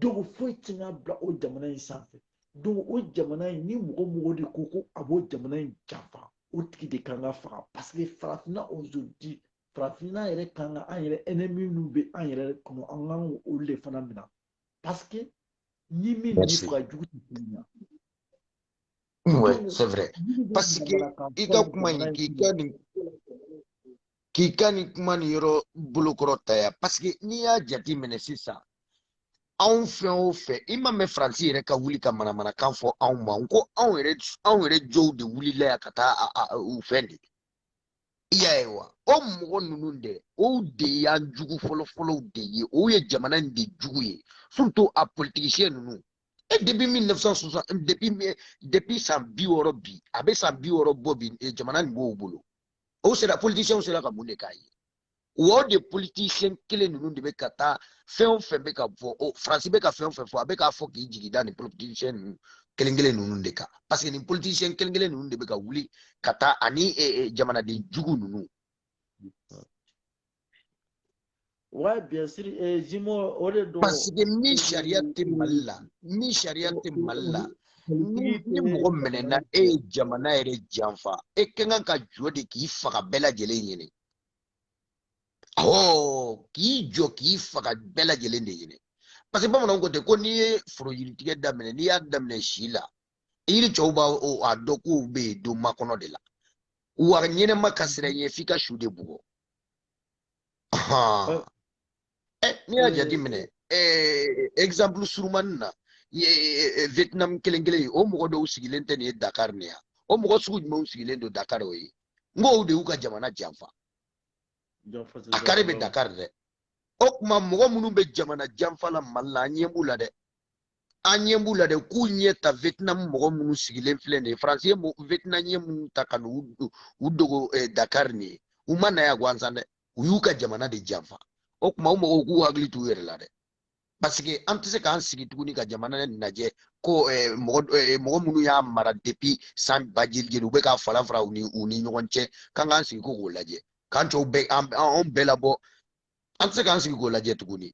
donc foyi ti ka bila o jamana in sanfɛ donc o jamana in ni mɔgɔ o mɔgɔ de ko ko a b'o jamana in janfa o tigi de kan ka faga parce que farafinna aujourd'hui farafinna yɛrɛ kan ka an yɛrɛ ennemi minnu bɛ an yɛrɛ kɔnɔ an ka olu de fana minɛ parce que ni min ni faga jugu tɛ kelen na Oui, c'est vrai. Parce que i ka kuma nin k'i ka nin k'i ka nin kuma nin yɔrɔ bolokɔrɔ ta yan parce que n'i y'a jate minɛ sisan anw fɛn o fɛn i ma mɛn faransi yɛrɛ ka wuli ka manamanakan fɔ anw ma n ko anw yɛrɛ anw yɛrɛ dɔw de wulila yan ka taa u fɛn de i y'a ye wa o mɔgɔ ninnu dɛ o de y'an jugu fɔlɔfɔlɔw de ye o ye jamana in de jugu ye surtout a politicien ninnu e depuis 1960 depuis depuis san bi wɔɔrɔ bi a bɛ san bi wɔɔrɔ bɔ bi eh, jamana nin b'o bolo o sera politiciens sera ka mun de k'an ye o de politicien kelen ninnu de bɛ ka taa fɛn o fɛn bɛ ka fɔ o faransi bɛ ka fɛn o fɛn fɔ a bɛ k'a fɔ k'i jigi da nin politicien ninnu kelen kelen ninnu de kan parce que nin politicien kelen kelen ninnu de bɛ ka wuli ka taa ani eh, eh, jamanaden jugu ninnu Ouais, bien sûr. Et Jimo, au lieu de... Parce que ni charia tɛ Mali la, ni charia tɛ Mali la, ni ni mɔgɔ minɛna e ye jamana yɛrɛ janfa, e ka kan ka jɔ de k'i faga bɛɛ lajɛlen ɲɛna. Awɔ, k'i jɔ k'i faga bɛɛ lajɛlen de ɲɛna. Parce que bamananw ko ten ko n'i ye foro yiritigɛ daminɛ, n'i y'a daminɛ si la, yiri cɛw b'a a dɔn k'u bɛ yen don makɔnɔ de la. Wa ɲɛnama ka siran i ɲɛ f'i ka su de bugɔ. eh, n'i y'a jateminɛ eh, exemple surumani na eh, vietnam kɛlɛ kɛlen ye o mɔgɔ dɔw sigilen tɛ nin ye dakar nin yan o mɔgɔ sugu jumɛnw sigilen don dakar o ye n ko olu de y'u ka jamana janfa a kari bɛ dakar dɛ o tuma mɔgɔ minnu bɛ jamana janfa la mali la an ɲɛ b'u la dɛ an ɲɛ b'u la dɛ k'u ɲɛ ta vietnam mɔgɔ minnu sigilen filɛ nin ye faransi ye vietnamiens minnu ta ka n'u u dogo eh, dakar nin ye u ma na yan gansan dɛ u y'u ka jamana de janfa o tuma o mɔgɔw k'u hakili t'u yɛrɛ la dɛ parce que an tɛ se k'an sigi tuguni ka jamana lajɛ ko eh, mɔgɔ eh, mɔgɔ minnu y'a mara depuis san ba jeli jeli u bɛ k'a fara fara u ni u ni ɲɔgɔn cɛ k'an k'an sigi ko k'o lajɛ k'an cɛw bɛɛ an bɛɛ labɔ an tɛ se k'an sigi k'o lajɛ tuguni.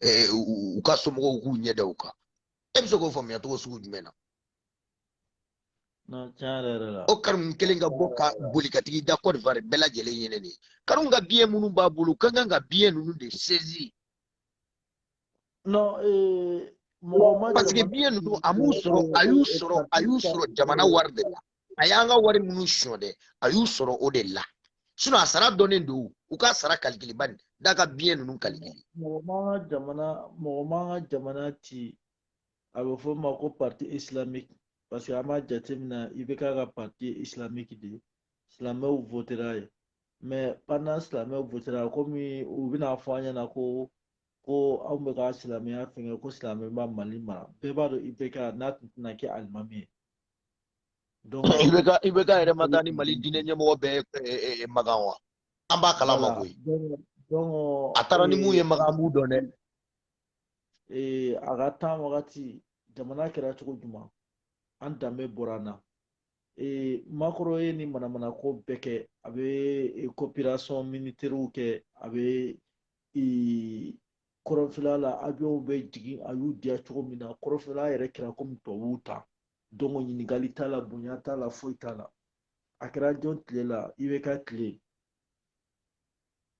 eh, u ka somɔgɔw k'u ɲɛ da u kan e bɛ se k'o faamuya cogo sugu jumɛn na o Karimu kelen ka bɔ ka boli ka tigi da Côte d'Ivoire bɛɛ lajɛlen ɲɛna de Karimu ka biens minnu b'a bolo ka kan ka biens ninnu de saisir non eh, mɔgɔ ma parce que biens ninnu a m'u sɔrɔ a y'u sɔrɔ a y'u sɔrɔ jamana wari de la a y'an ka wari minnu sonya dɛ a y'u sɔrɔ o de la sinon a sara dɔnnen don u k'a sara kalikili ban nin da ka biens ninnu kalikili mɔgɔ man ka jamana mɔgɔ man ka jamana ci a bɛ fɔ an ma ko parti islamique parce que an b'a jateminɛ IBK ka parti islamique de ye silamɛw votera ye mais pendant silamɛw votera komi u bɛna fɔ an ɲɛna ko ko anw bɛ ka silamɛya fɛngɛ ko silamɛ b'a mali mara bɛɛ b'a dɔn IBK n'a tun tɛna kɛ alimami ye IBK yɛrɛ ma taa ni mali diinɛ ɲɛmɔgɔ bɛɛ makan wa an b'a kalama koyi a taara ni mun ye makan an b'u dɔn dɛ ee a ka temps wagati jamana kɛra cogo jumɛn an danbe bɔra an na ee Macron ye ni manamana ko bɛɛ kɛ a bɛ coopération militaire kɛ a bɛ kɔrɔnfɛla la avionw bɛ jigin a y'u diya cogo min na kɔrɔnfɛla yɛrɛ kɛra komi tubabuw ta donc ɲininkali t'a la bonya t'a la foyi t'a la a kɛra jɔn tile la IBK tile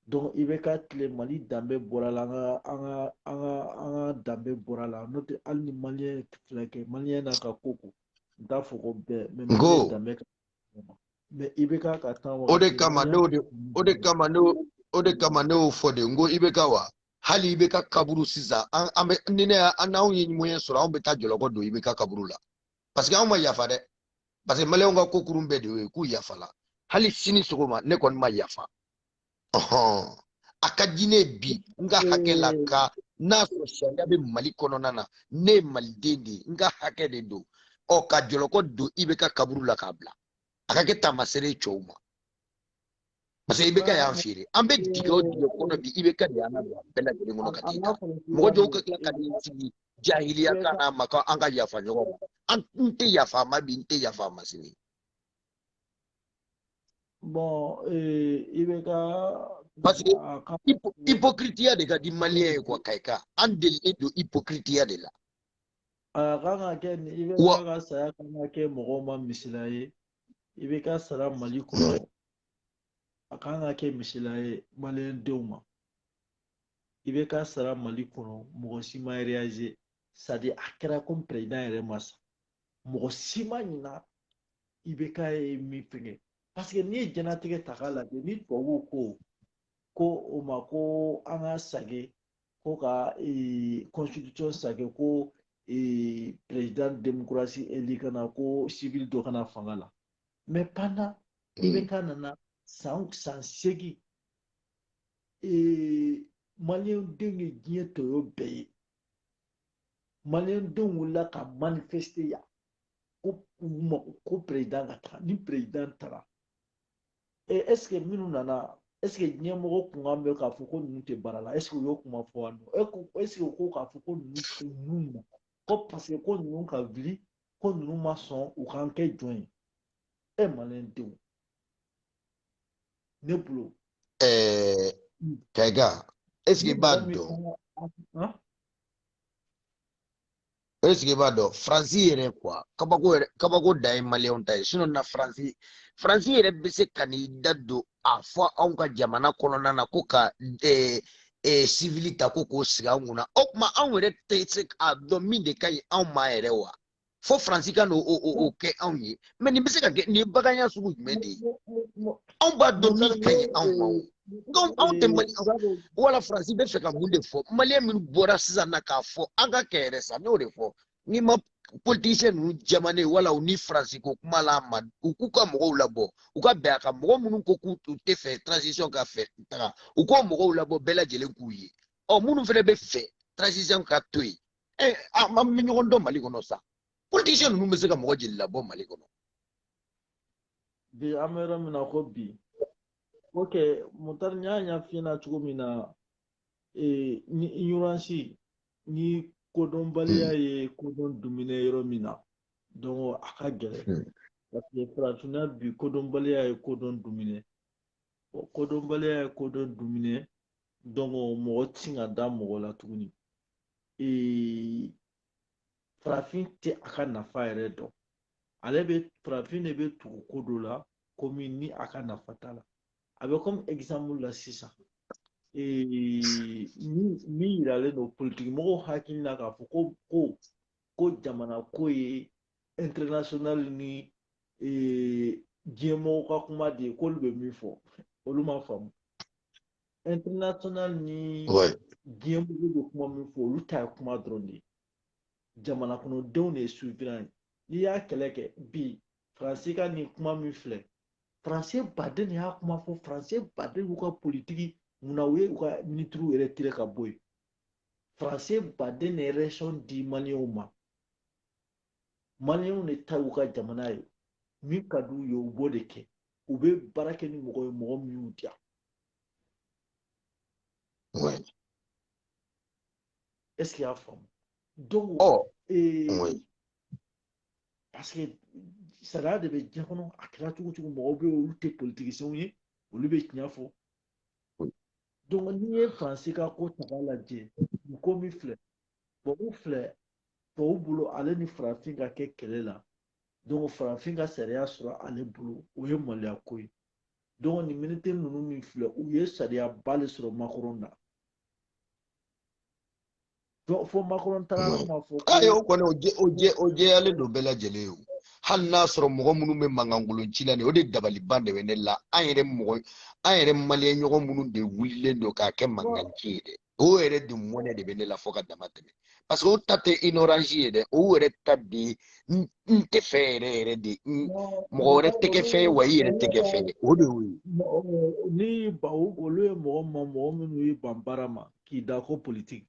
don IBK tile mali danbe bɔra la an ka an ka an ka an ka danbe bɔra la n'o tɛ hali ni maliyɛn filɛ kɛ maliyɛn n'a ka ko ko n t'a fɔ ko bɛɛ mais maliyɛn danbe ka mais IBK ka temps o de kama ne o de kama ne o de kama ne y'o fɔ de n ko IBK wa hali IBK kaburu sisan an an bɛ ni ne an n'anw ye moyen sɔrɔ anw bɛ taa jɔlɔkɔ don IBK kaburu la parce que anw ma yafa dɛ parce que maliyɛnw ka ko kurun bɛɛ de y'o ye k'u yafala hali sini sɔgɔma ne kɔni ma yafa ɔhɔn a ka di ne bi n ka hakɛ la ka n'a sɔrɔ sariya bɛ mali kɔnɔna na ne ye maliden de ye n ka hakɛ de don ɔ ka jɔlɔkɔ don IBK kaburu la k'a bila a ka kɛ taamasere ye cɛw ma parce que IBK y'an feere an bɛ dingɛ o dingɛ kɔnɔ bi IBK de y'an ka don a bɛɛ lajɛlen kɔnɔ ka t'i ta mɔgɔ dɔw ka tila ka n'i sigi jahiliya kan n'a ma ko an ka yafa ɲɔgɔn ma n tɛ yafa a ma bi n tɛ yafa a ma sini. bon IBK. parce que hypocritiya de ka di maliyɛn ye quoi kayika an delilen don hypocritiya de la. a kan ka kɛ IBK saya kan ka kɛ mɔgɔw ma misila ye. IBK sara mali kɔnɔ a kan ka kɛ misila ye maliyɛndenw ma IBK sara mali kɔnɔ mɔgɔ si ma réaliser c'est-à-dire a kɛra komi président yɛrɛ ma sa mɔgɔ si ma ɲina IBK ye min fɛngɛ parce que n'i ye jɛnatigɛ ta k'a lajɛ ni tubabuw ko ko o ma ko an ka sage ko ka constitution sake ko président démocratie élu ka na ko civil dɔ ka na fanga la mais pendant IBK nana san san seegin maliyɛn denw ye diɲɛ tɔɔrɔ bɛɛ ye maliyɛn denw wulila ka manifester yan ko u mako ko président ka taga ni président taara ee est-ce que minnu nana est-ce que ɲɛmɔgɔ kun kan bɛ k'a fɔ ko ninnu tɛ baara la est-ce que u y'o kuma fɔ yan nɔ est-ce que u ko k'a fɔ ko ninnu tɛ ninnu ma ko parce que ko ninnu ka wuli ko ninnu ma sɔn u k'an kɛ jɔn ye e maliyɛn denw ne bolo. ɛɛ kɛga est-ce que i b'a dɔn. o est-ce que i b'a dɔn faransi yɛrɛ quoi kabako yɛrɛ kabako dan ye maliyɛnw ta ye sinon na faransi faransi yɛrɛ bɛ se ka n'i da don a fɔ anw ka jamana kɔnɔna na ko ka eh, eh, civil ta ko k'o sigi anw kunna o tuma anw yɛrɛ tɛ se k'a dɔn min de ka ɲi anw ma yɛrɛ wa fo faransi ka n'o o o o kɛ anw ye mais nin bɛ se ka kɛ nin ye baganya sugu jumɛn de ye anw b'a dɔn min ka ɲi anw ma nka anw tɛ mali wala faransi bɛ fɛ ka mun de fɔ maliyɛn minnu bɔra sisan na k'a fɔ an ka kɛ yɛrɛ sa n'o de fɔ n'i ma politisiyɛn ninnu jɛmanen wala u ni faransi ko kuma la ma u k'u ka mɔgɔw labɔ u ka bɛn a kan mɔgɔ minnu ko k'u u tɛ fɛ transition ka fɛ taga u k'o mɔgɔw labɔ bɛɛ lajɛlen k'u ye ɔ minnu fana bɛ fɛ transition ka to yen ɛ an bɛ ɲɔgɔn dɔn mali kɔnɔ sa politisiyɛn ninnu bɛ se ka mɔgɔ jeli labɔ mali kɔnɔ bi an bɛ yɔrɔ min na ko bi ok mutari n y'a ɲɛf'i ɲɛna cogo min na ee ni ignorance ni kodɔnbaliya hmm. ye kodɔn dumune yɔrɔ min na donc a ka gɛlɛn hmm. parce que farafinna bi kodɔnbaliya ye kodɔn dumune kodɔnbaliya ye kodɔn dumune donc mɔgɔ ti ka da mɔgɔ la tuguni ee farafin tɛ a ka nafa yɛrɛ dɔn ale bɛ farafin de bɛ tugu ko dɔ la komi ni a ka nafa t'a la a bɛ komi exemple la sisan min yiralen don politikimɔgɔw hakili la k'a fɔ ko ko ko jamana ko ye international ni diɲɛmɔgɔw ka kuma de ye k'olu bɛ min fɔ olu ma faamu international ni diɲɛmɔgɔ bɛ kuma min fɔ olu ta ye kuma dɔrɔn de ye jamana kɔnɔdenw de ye souverain ye n'i y'a kɛlɛ kɛ bi faransi ka nin kuma min filɛ faransi baden de y'a kuma fɔ faransi baden y'u ka politiki munna u ye u ka ministres yɛrɛ tiré ka bɔ yen faransi baden de ye raison di maliyɛnw ma maliyɛnw de ta y'u ka jamana ye min ka d'u ye u b'o de kɛ u bɛ baara kɛ ni mɔgɔ ye mɔgɔ min y'u diya est ce qu'i y'a faamu donc oh. ee, oui. parce que sariya de bɛ diɲɛ kɔnɔ a kɛra cogo cogo mɔgɔw bɛ yen olu tɛ politiciens ye olu bɛ tiɲɛ fɔ donc n'i ye faransi ka ko ta k'a lajɛ nin ko min filɛ tubabu filɛ tubabu bolo ale ni farafin ka kɛ kɛlɛ la donc farafin ka sariya sɔrɔ ale bolo o ye maloya ko ye donc nin militaire ninnu min filɛ u ye sariyaba de sɔrɔ Macron na donc fo Macron taara kuma fɔ ayi o kɔni o jɛ o jɛ o jɛyalen don bɛɛ lajɛlen ye o hali n'a sɔrɔ mɔgɔ minnu bɛ mankankolon ci la nin o de dabaliban de bɛ ne la an yɛrɛ mɔgɔ an yɛrɛ maliyɛn ɲɔgɔn minnu de wulilen don k'a kɛ mankan ci ye dɛ o yɛrɛ de mɔnɛ de bɛ ne la fo ka dama tɛmɛ parce que o ta tɛ ignorance ye dɛ o yɛrɛ ta de n tɛ fɛ yɛrɛ yɛrɛ de mɔgɔ wɛrɛ tɛ kɛ fɛn ye wa i yɛrɛ tɛ kɛ fɛn ye o de y'o ye. ni ba olu ye mɔgɔ ma mɔgɔ minnu y'i ban baara ma k'i da ko politiki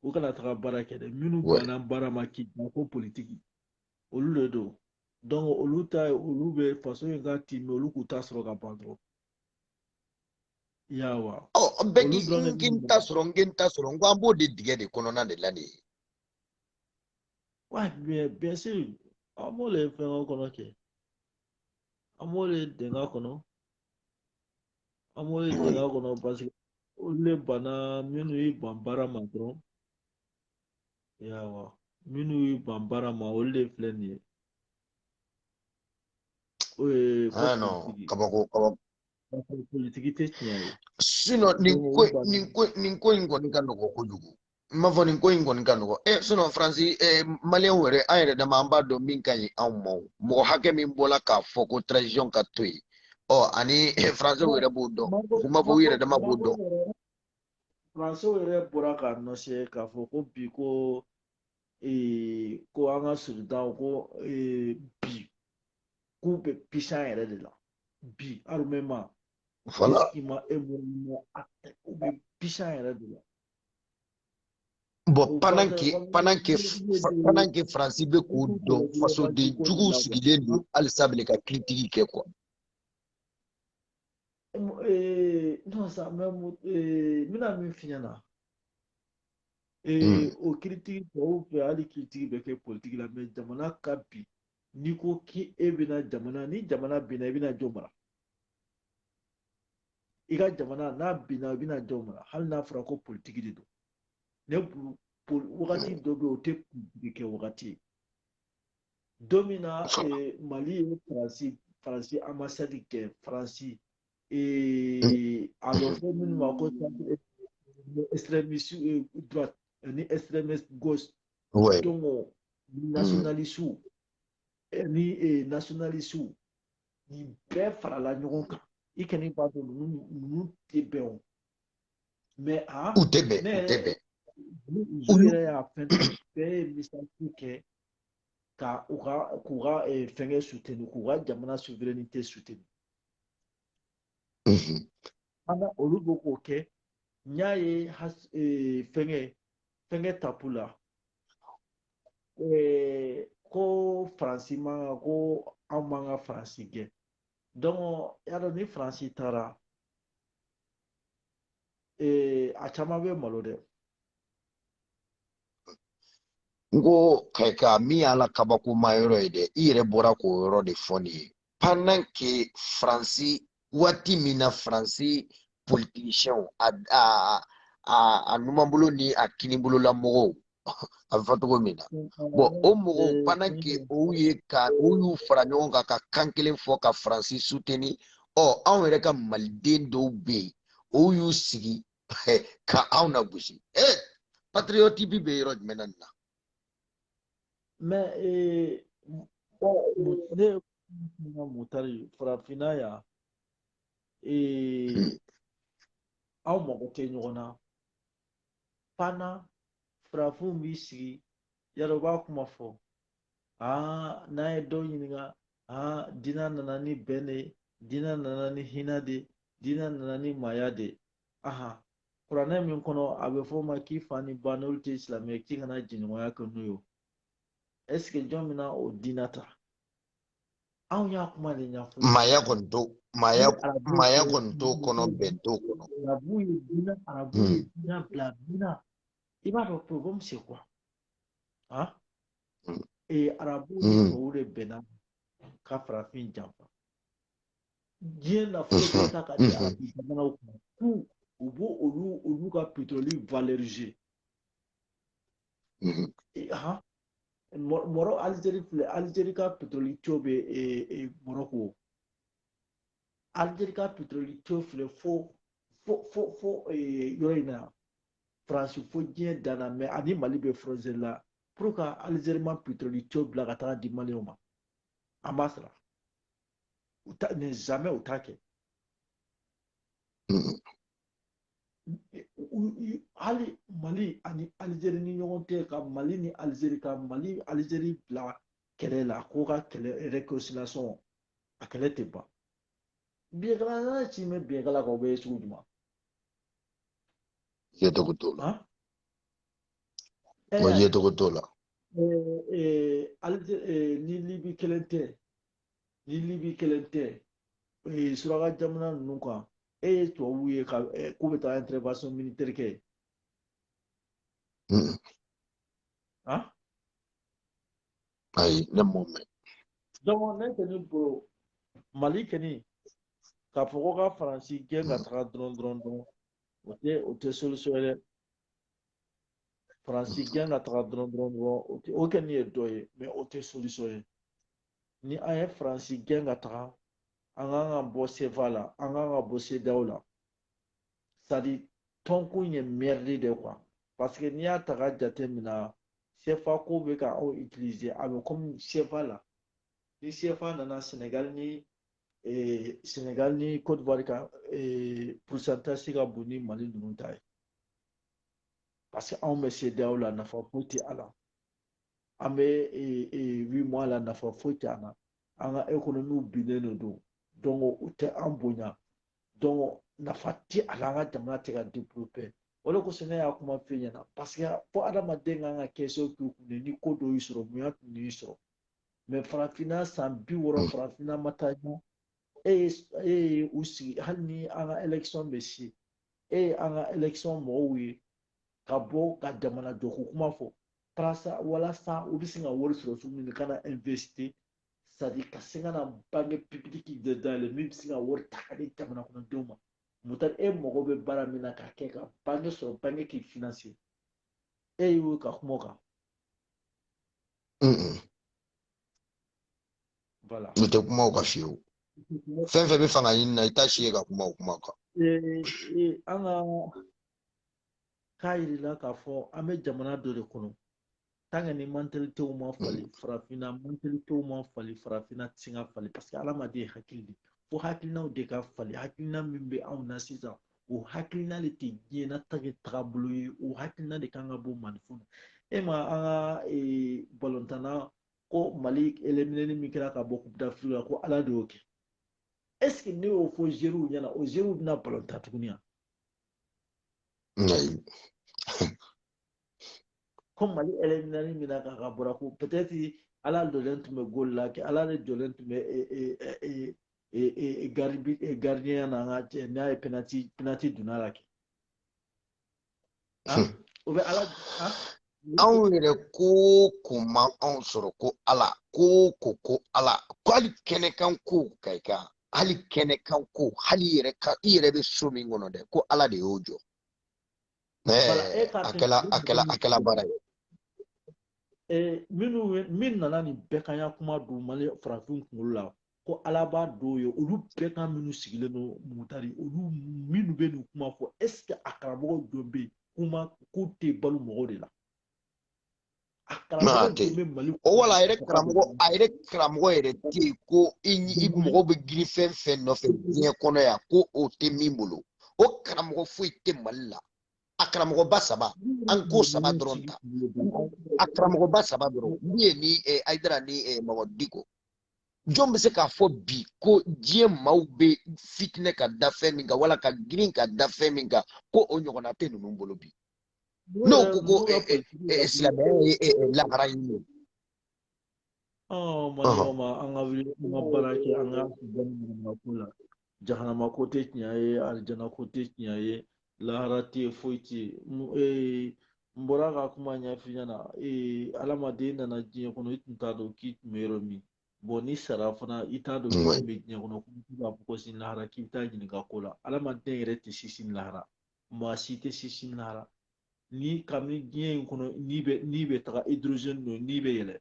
u kana taga baara kɛ dɛ minnu banna baara ma k'i da ko politiki olu de don donc olu ta olu bɛ faso in ka timi olu k'u ta sɔrɔ ka ban dɔrɔn. bɛɛ k'i n ta sɔrɔ n n ta sɔrɔ n ko an b'o de dingɛ de kɔnɔna de la nin ye bien sûr an b'o le fɛngɛ kɔnɔ kɛ an b'o le dingɛ kɔnɔ an b'o le dingɛ kɔnɔ parce que olu le banna minnu y'i ban baara ma dɔrɔn yawa minnu y'i ban baara ma olu de filɛ nin ye eh, ah, non, kabako kabako politiki tɛ tiɲɛ ye sinon nin ko nin ko nin ko in kɔni ka nɔgɔ kojugu n m'a fɔ nin ko in kɔni ka nɔgɔ e sinon faransi ɛ maliyɛnw yɛrɛ an yɛrɛ dama an b'a dɔn min ka ɲi anw ma mɔgɔ hakɛ min bɔla k'a fɔ ko transition ka to yen ɔ ani faransiw yɛrɛ b'o dɔn u m'a fɔ u yɛrɛ dama b'o dɔn faransiw yɛrɛ bɔra k'a annoncer k'a fɔ ko bi ko ko an ka soldatw ko bi k'u bɛ pisan yɛrɛ de la bi armement fana i ma e mun mɔ a u bɛ pisan yɛrɛ de la bon pendant que pendant que pendant que faransi bɛ k'o dɔn fasoden juguw sigilen don halisa bilen ka kiritigi kɛ quoi non ça mais n bɛna min f'i ɲɛna ee mm. o kiritigi tɔw fɛ hali kiritigi bɛ kɛ politiki la mais jamana ka bin n'i ko k'i e bɛna jamana ni jamana binna i bɛna jɔn mara i ka jamana n'a binna i bɛna jɔn mara hali n'a fɔra ko politiki de don ne bolo wagati dɔ bɛ yen o tɛ politiki kɛ wagati ye don min na mali ye faransi faransi ambasadi gɛn faransi et a bɛ fɔ minnu ma ko extrémiste euh, droite ni extrémiste gauche ouais. donc euh, mm. nationaliste ni eh, nationaliste nin bɛɛ farala ɲɔgɔn kan i kɔni b'a dɔn ninnu ninnu tɛ bɛn o mais a u tɛ bɛn u tɛ bɛn u yɛrɛ y'a fɛn bɛɛ ye misali kɛ ka u ka k'u ka eh, fɛnkɛ suteni k'u ka jamana souveraineté suteni Ana olu bɛ k'o kɛ n y'a ye e, fɛnkɛ fɛnkɛ tapu la e, ko faransi man kan ko an man ka faransi gɛn donc y'a dɔn ni faransi taara e, a caman bɛ malo dɛ n ko ka min y'a la kabakoma yɔrɔ ye dɛ i yɛrɛ bɔra k'o yɔrɔ de fɔ nin ye pendant que faransi waati min na faransi politisiɲɛw a a a a numanbolo ni a kinibolola mɔgɔw a bɛ fɔ cogo min na bon o mɔgɔw pendant que o ye ka o y'u fara ɲɔgɔn kan ka kan kelen fɔ ka faransi suteni ɔ anw yɛrɛ ka maliden dɔw bɛ yen o y'u sigi ka anw nagosi ee patriotisme bɛ yɔrɔ jumɛn na nin na mais ee, ne ko mutari farafinna yan ee, hmm. aw mago tɛ ɲɔgɔn na fana farafinw b'i sigi yan dɔ b'a kuma fɔ aa n'an ye dɔ ɲininka aa diinɛ nana ni bɛn de ye diinɛ nana ni hinɛ de ye diinɛ nana ni maaya de ye aha kuranɛ min kɔnɔ a bɛ fɔ o ma k'i fa ni ba n'olu tɛ silamɛ ye k'i kana jɛɲɔgɔnya kɛ n'u ye est-ce que jɔn bɛna o diinɛ ta anw y'a kuma de ɲɛfɔ maaya kɔni t'o maaya maaya kɔni t'o kɔnɔ bɛn t'o kɔnɔ arabu ye diinɛ arabu ye hmm. diinɛ bila diinɛ i b'a dɔn problème c'est quoi han hmm. ee arabu ni hmm. tubabu de bɛnna ka farafin janfa diɲɛ nafolo bɛɛ mhm. ta ka di arabu mhm. jamanaw ma k'u u b'o olu olu ka pétrole valoriser mhm. han mɔrɔ alizeri filɛ alizeri ka pétrole tuyau bɛ mɔrɔko alizeri ka pétrole tuyau filɛ fo fo fo fo yɔrɔ in na faransi fo diɲɛ dan na mais a ni mali bɛ frontière la pourquoi alizeri ma pétrole tuyau bila ka taga di maliyɛnw ma an b'a sara u ta ni jamais u t'a kɛ mm-hmm. hali mali ani alizeri ni ɲɔgɔn cɛ ka mali ni alizeri ka mali alizeri bila kɛlɛ la ko ka kɛlɛ réconciliation a kɛlɛ tɛ ban biɲɛkala n'a ci mɛ biɲɛkala kan o bɛ ye sugu jumɛn ye cogo t'o la o ye cogo t'o la ni libi kelen tɛ ni libi kelen tɛ ee suraka jamana ninnu kan e ye tubabuw ye ka k'u bɛ taa intervention militaire kɛ han ayi ne m'o mɛn donc ne kɔni bolo mali kɔni k'a fɔ ko ka faransi gɛn ka taga dɔrɔn dɔrɔn dɔrɔn o tɛ o tɛ solution ye dɛ faransi gɛn ka taga dɔrɔn dɔrɔn dɔrɔn o tɛ o kɔni ye dɔ ye mais o tɛ solution ye ni an ye faransi gɛn ka taga an kan ka bɔ sefa la an kan ka bɔ CEDEAO la c'est-à-dire tɔnkun ye merde de quoi parce que n'i y'a ta ka jate mina sefa ko bɛ ka aw utiliser a bɛ comme sefa la ni sefa nana sɛnɛgali ni eh, sɛnɛgali ni côte d'ivoire ka eh, pourcentage ka bon ni mali ninnu ta ye parce que anw bɛ CEDEAO la nafa foyi tɛ a la an bɛ UEMOA la nafa foyi tɛ an na an ka économie binnen de don donc u tɛ an bonya donc nafa tɛ a la an ka jamana tɛ ka développer o de kosɔn ne y'a kuma f'i ɲɛna parce que fo adamaden kan ka kɛ so k'i kun de ni ko dɔ y'i sɔrɔ bonya tun y'i sɔrɔ mais farafinna san bi wɔɔrɔ farafinna ma taa ɲɛ e ye e ye u sigi hali ni an ka élection bɛ se e ye an ka élection mɔgɔw ye ka bɔ ka jamana jɔko kuma fɔ walasa walasa u bɛ se ka wari sɔrɔ cogo min na ka na investir c'est à dire ka se ka na banque publique de dayɛlɛ min bɛ se ka wari ta ka di jamana kɔnɔdenw ma mutari e mago bɛ baara min na k'a kɛ ka banque sɔrɔ banque k'i financer e y'o ka kuma o kan voilà u tɛ kuma o kan fiyewu fɛn fɛn bɛ fanga ɲini na i t'a si ye ka kuma o kuma kan an ka k'a jirila k'a fɔ an bɛ jamana dɔ de kɔnɔ tant que ni mantalitew ma fali mm. farafinna mantalitew ma fali farafinna tɛ se ka fali parce que hadamaden ye hakili de fo hakilinaw de ka fali hakilina min bɛ anw na sisan o hakilina de tɛ diɲɛ na tage tagabolo ye o hakilina de kan ka bɔ maliyɛnw na ma an ka eh, balontan na ko mali éliminéni min kɛra ka bɔ coupe d'afrique la ko ala de y'o kɛ est ce que n'i y'o fɔ joueurw ɲɛna o joueurw bɛna balon tan tuguni wa comme mali éliminéni min na k'a ka bɔra ko peut-être ala jɔlen tun bɛ gol la kɛ ala de jɔlen tun bɛ gardien na an ka n'a ye penalty penalty donna la kɛ Hmm. O bɛ ala anw yɛrɛ ko ko ma anw sɔrɔ ko ala ko ko ko ala ko hali kɛnɛkan ko ka i kan hali kɛnɛkan ko hali yɛrɛ ka i yɛrɛ bɛ so min kɔnɔ dɛ ko ala de y'o jɔ eh, a kɛla a kɛla a kɛla baara ye eh, minnu min nana nin bɛganya kuma don mali farafinw kunkolo la ko ala b'a dɔw ye olu bɛgan minnu sigilen don mutari olu minnu bɛ nin kuma fɔ est ce que a karamɔgɔ jɔn bɛ yen kuma k'u tɛ balo mɔgɔw de la a karamɔgɔ jɔn bɛ mali o wala a yɛrɛ karamɔgɔ a yɛrɛ karamɔgɔ yɛrɛ tɛ yen ko i i mɔgɔ bɛ girin fɛn fɛn nɔfɛ diɲɛ kɔnɔ yan ko o tɛ min bolo o karamɔgɔ foyi tɛ mali la a karamɔgɔba saba an ko saba dɔrɔn ta a karamɔgɔba saba dɔrɔn min ye ni ayidara ni mamudu diko jɔn bɛ se k'a fɔ bi ko diɲɛ maaw bɛ fitinɛ ka da fɛn min kan wala ka girin ka da fɛn min kan ko o ɲɔgɔnna tɛ ninnu bolo bi n'o ko ko silamɛya ye lahara ɲini ye. ɔ mali ma an ka wuli an ka baara kɛ an ka bɔ nin ko la jahanama ko tɛ tiɲɛ ye alijana ko tɛ tiɲɛ ye lahara tɛ yen foyi tɛ yen n bɔra ka kuma ɲɛf'i ɲɛna adamaden nana diɲɛ kɔnɔ i tun t'a dɔn k'i tun bɛ yɔrɔ min bon n'i sara fana i t'a dɔn k'i tun bɛ diɲɛ kɔnɔ k'i b'a fɔ ko sini lahara k'i bɛ taa ɲininka ko la adamaden yɛrɛ tɛ se sini lahara maa si tɛ se sini lahara ni kabini diɲɛ in kɔnɔ n'i bɛ n'i bɛ taga hydrogène don n'i bɛ yɛlɛ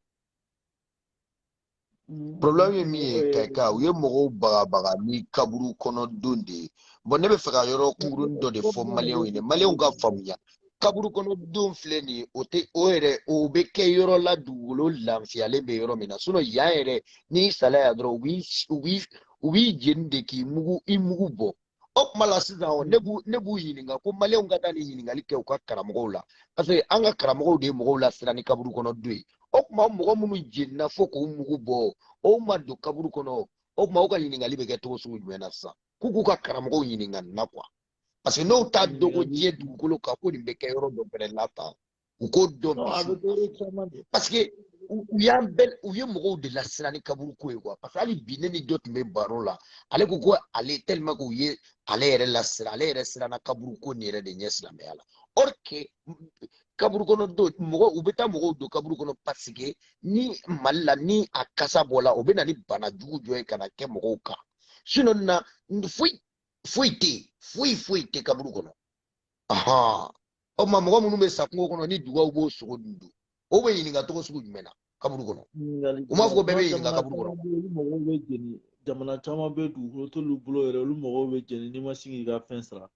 Mm. problème ye min ye kayika u ye mɔgɔw bagabaga ni kaburu kɔnɔ don de ye bɔn ne bɛ fɛ ka yɔrɔ kunkurunin dɔ de fɔ maliyɛnw ye maliyɛnw ka faamuya kaburu kɔnɔ don filɛ nin ye o tɛ o yɛrɛ o bɛ kɛ yɔrɔ la dugukolo lafiyalen bɛ yɔrɔ min na sinɔn yan yɛrɛ n'i sala yan dɔrɔn u b'i u b'i u b'i jeni de k'i mugu i mugu bɔ o kuma la sisan o ne b'u ne b'u ɲininka ko maliyɛnw ka taa nin ɲininkali kɛ u ka karamɔgɔw la parce que an ka karamɔgɔw de ye mɔgɔw lasiran ni kaburu kɔnɔ don ye o kuma mɔgɔ minnu jenina fo k'u mugu bɔ o ma don kaburu kɔnɔ o kuma u ka ɲininkali bɛ kɛ cogo sugu jumɛn na sisan k'u k'u ka karamɔgɔw ɲininka nin na quoi parce que n'u t'a dɔn ko diɲɛ dugukolo kan ko nin bɛ kɛ yɔrɔ dɔ fɛnɛ la tan u k'o dɔn Non, a bɛ dɔ ye caman de. parce que u u y'an bɛɛ u ye mɔgɔw de lasiran ni kaburu ko ye quoi parce que hali bi ne ni dɔ tun bɛ baro la ale ko ko ale tellement que u ye ale yɛrɛ lasiran ale yɛrɛ siranna kaburu ko nin yɛrɛ de ɲɛ silamɛya la or que kaburu kɔnɔ don mɔgɔ u bɛ taa mɔgɔw don kaburu kɔnɔ parce que ni mali la ni a kasa bɔla o bɛ na ni bana jugu dɔ ye ka na kɛ mɔgɔw kan sinon na foyi foyi tɛ yen foyi foyi tɛ kaburu kɔnɔ ahan o tuma mɔgɔ minnu bɛ sa kungo kɔnɔ ni dugaw b'o sogo dun dun o bɛ ɲininka cogo sugu jumɛn na kaburu kɔnɔ u m'a fɔ ko bɛɛ bɛ ɲininka kaburu kɔnɔ olu mɔgɔw bɛ jeni jamana caman bɛ dugukolo t'olu bolo yɛrɛ olu mɔgɔw bɛ jeni n'i ma se k'i ka fɛn sara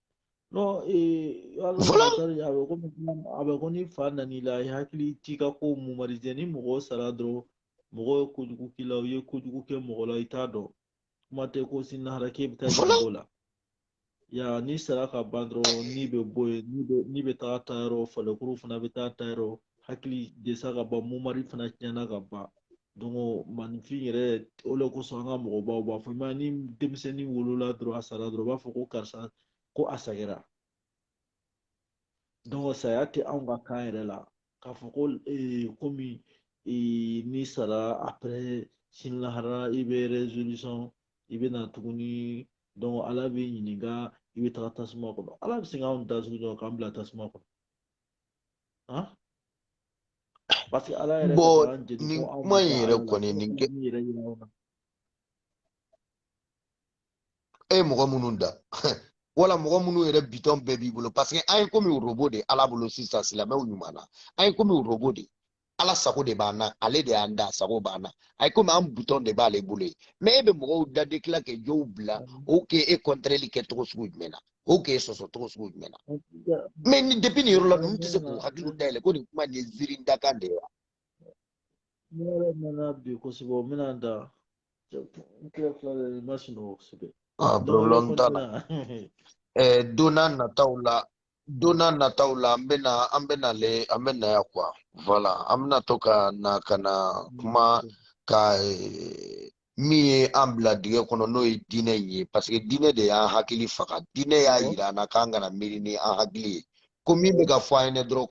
non ee a bɛ komi a bɛ ko ni fa nan'i la i hakili t'i ka ko mémoriser ni mɔgɔ sara dɔrɔn mɔgɔ ye kojugu k'i la u ye kojugu kɛ mɔgɔ la i t'a dɔn kuma tɛ ko sini lahara k'e bɛ taa jang'o la ya n'i sara ka ban dɔrɔn ni bɛ bɔ yen ni bɛ taa ta yɔrɔ farikuru fana bɛ taa ta yɔrɔ hakili de sa ka ban mémoire fana tiɲɛna ka ban donc maaninfin yɛrɛ o de kosɔn an ka mɔgɔbaw b'a fɔ mais ni denmisɛnnin wolola dɔrɔn a sara dɔrɔn u b'a fɔ ko karisa ko a sagira donc saya tɛ anw ka kan yɛrɛ la k'a fɔ ko eh, komi eh, n'i sara après sini lahara i bɛ résurrection i bɛ na tuguni donc ala b'i ɲininka i bɛ taga tasuma kɔnɔ ala bɛ se k'anw da sugu dɔ k'an bila tasuma kɔnɔ han parce que ala yɛrɛ bɔn nin kuma in yɛrɛ kɔni nin kɛ e ye mɔgɔ minnu da wala mɔgɔ minnu yɛrɛ bitɔn bɛɛ b'i bolo parce que an ye komi robot de ala bolo sisan silamɛw ɲuman na an ye komi robot de ala sago de b'an na ale de y'an da sago b'an na a ye komi an bitɔn de b'ale bolo ye mais e bɛ mɔgɔw da de tila ka dɔw bila o k'e e kɔntɛrɛli kɛ cogo sugu jumɛn na o k'e sɔsɔ cogo sugu jumɛn na mais ni depuis nin yɔrɔ la ninnu tɛ se k'u hakiliw dayɛlɛ ko nin kuma nin ye ziiri dakan de ye wa Ne yɛrɛ nana bi kosɛbɛ o bɛna n da n kila kila de n ma sunɔgɔ kosɛbɛ ah problème t'a la eh, don n'a nataw la don n'a nataw la an bɛna an bɛna le an bɛ na yan quoi voilà an bɛna to ka na ka na kuma ka eh, min ye an bila dingɛ kɔnɔ n'o ye diinɛ in ye parce que diinɛ de y'an hakili faga diinɛ y'a yira an na k'an kana miiri ni an hakili ye ko min bɛ ka fɔ an ye dɔrɔn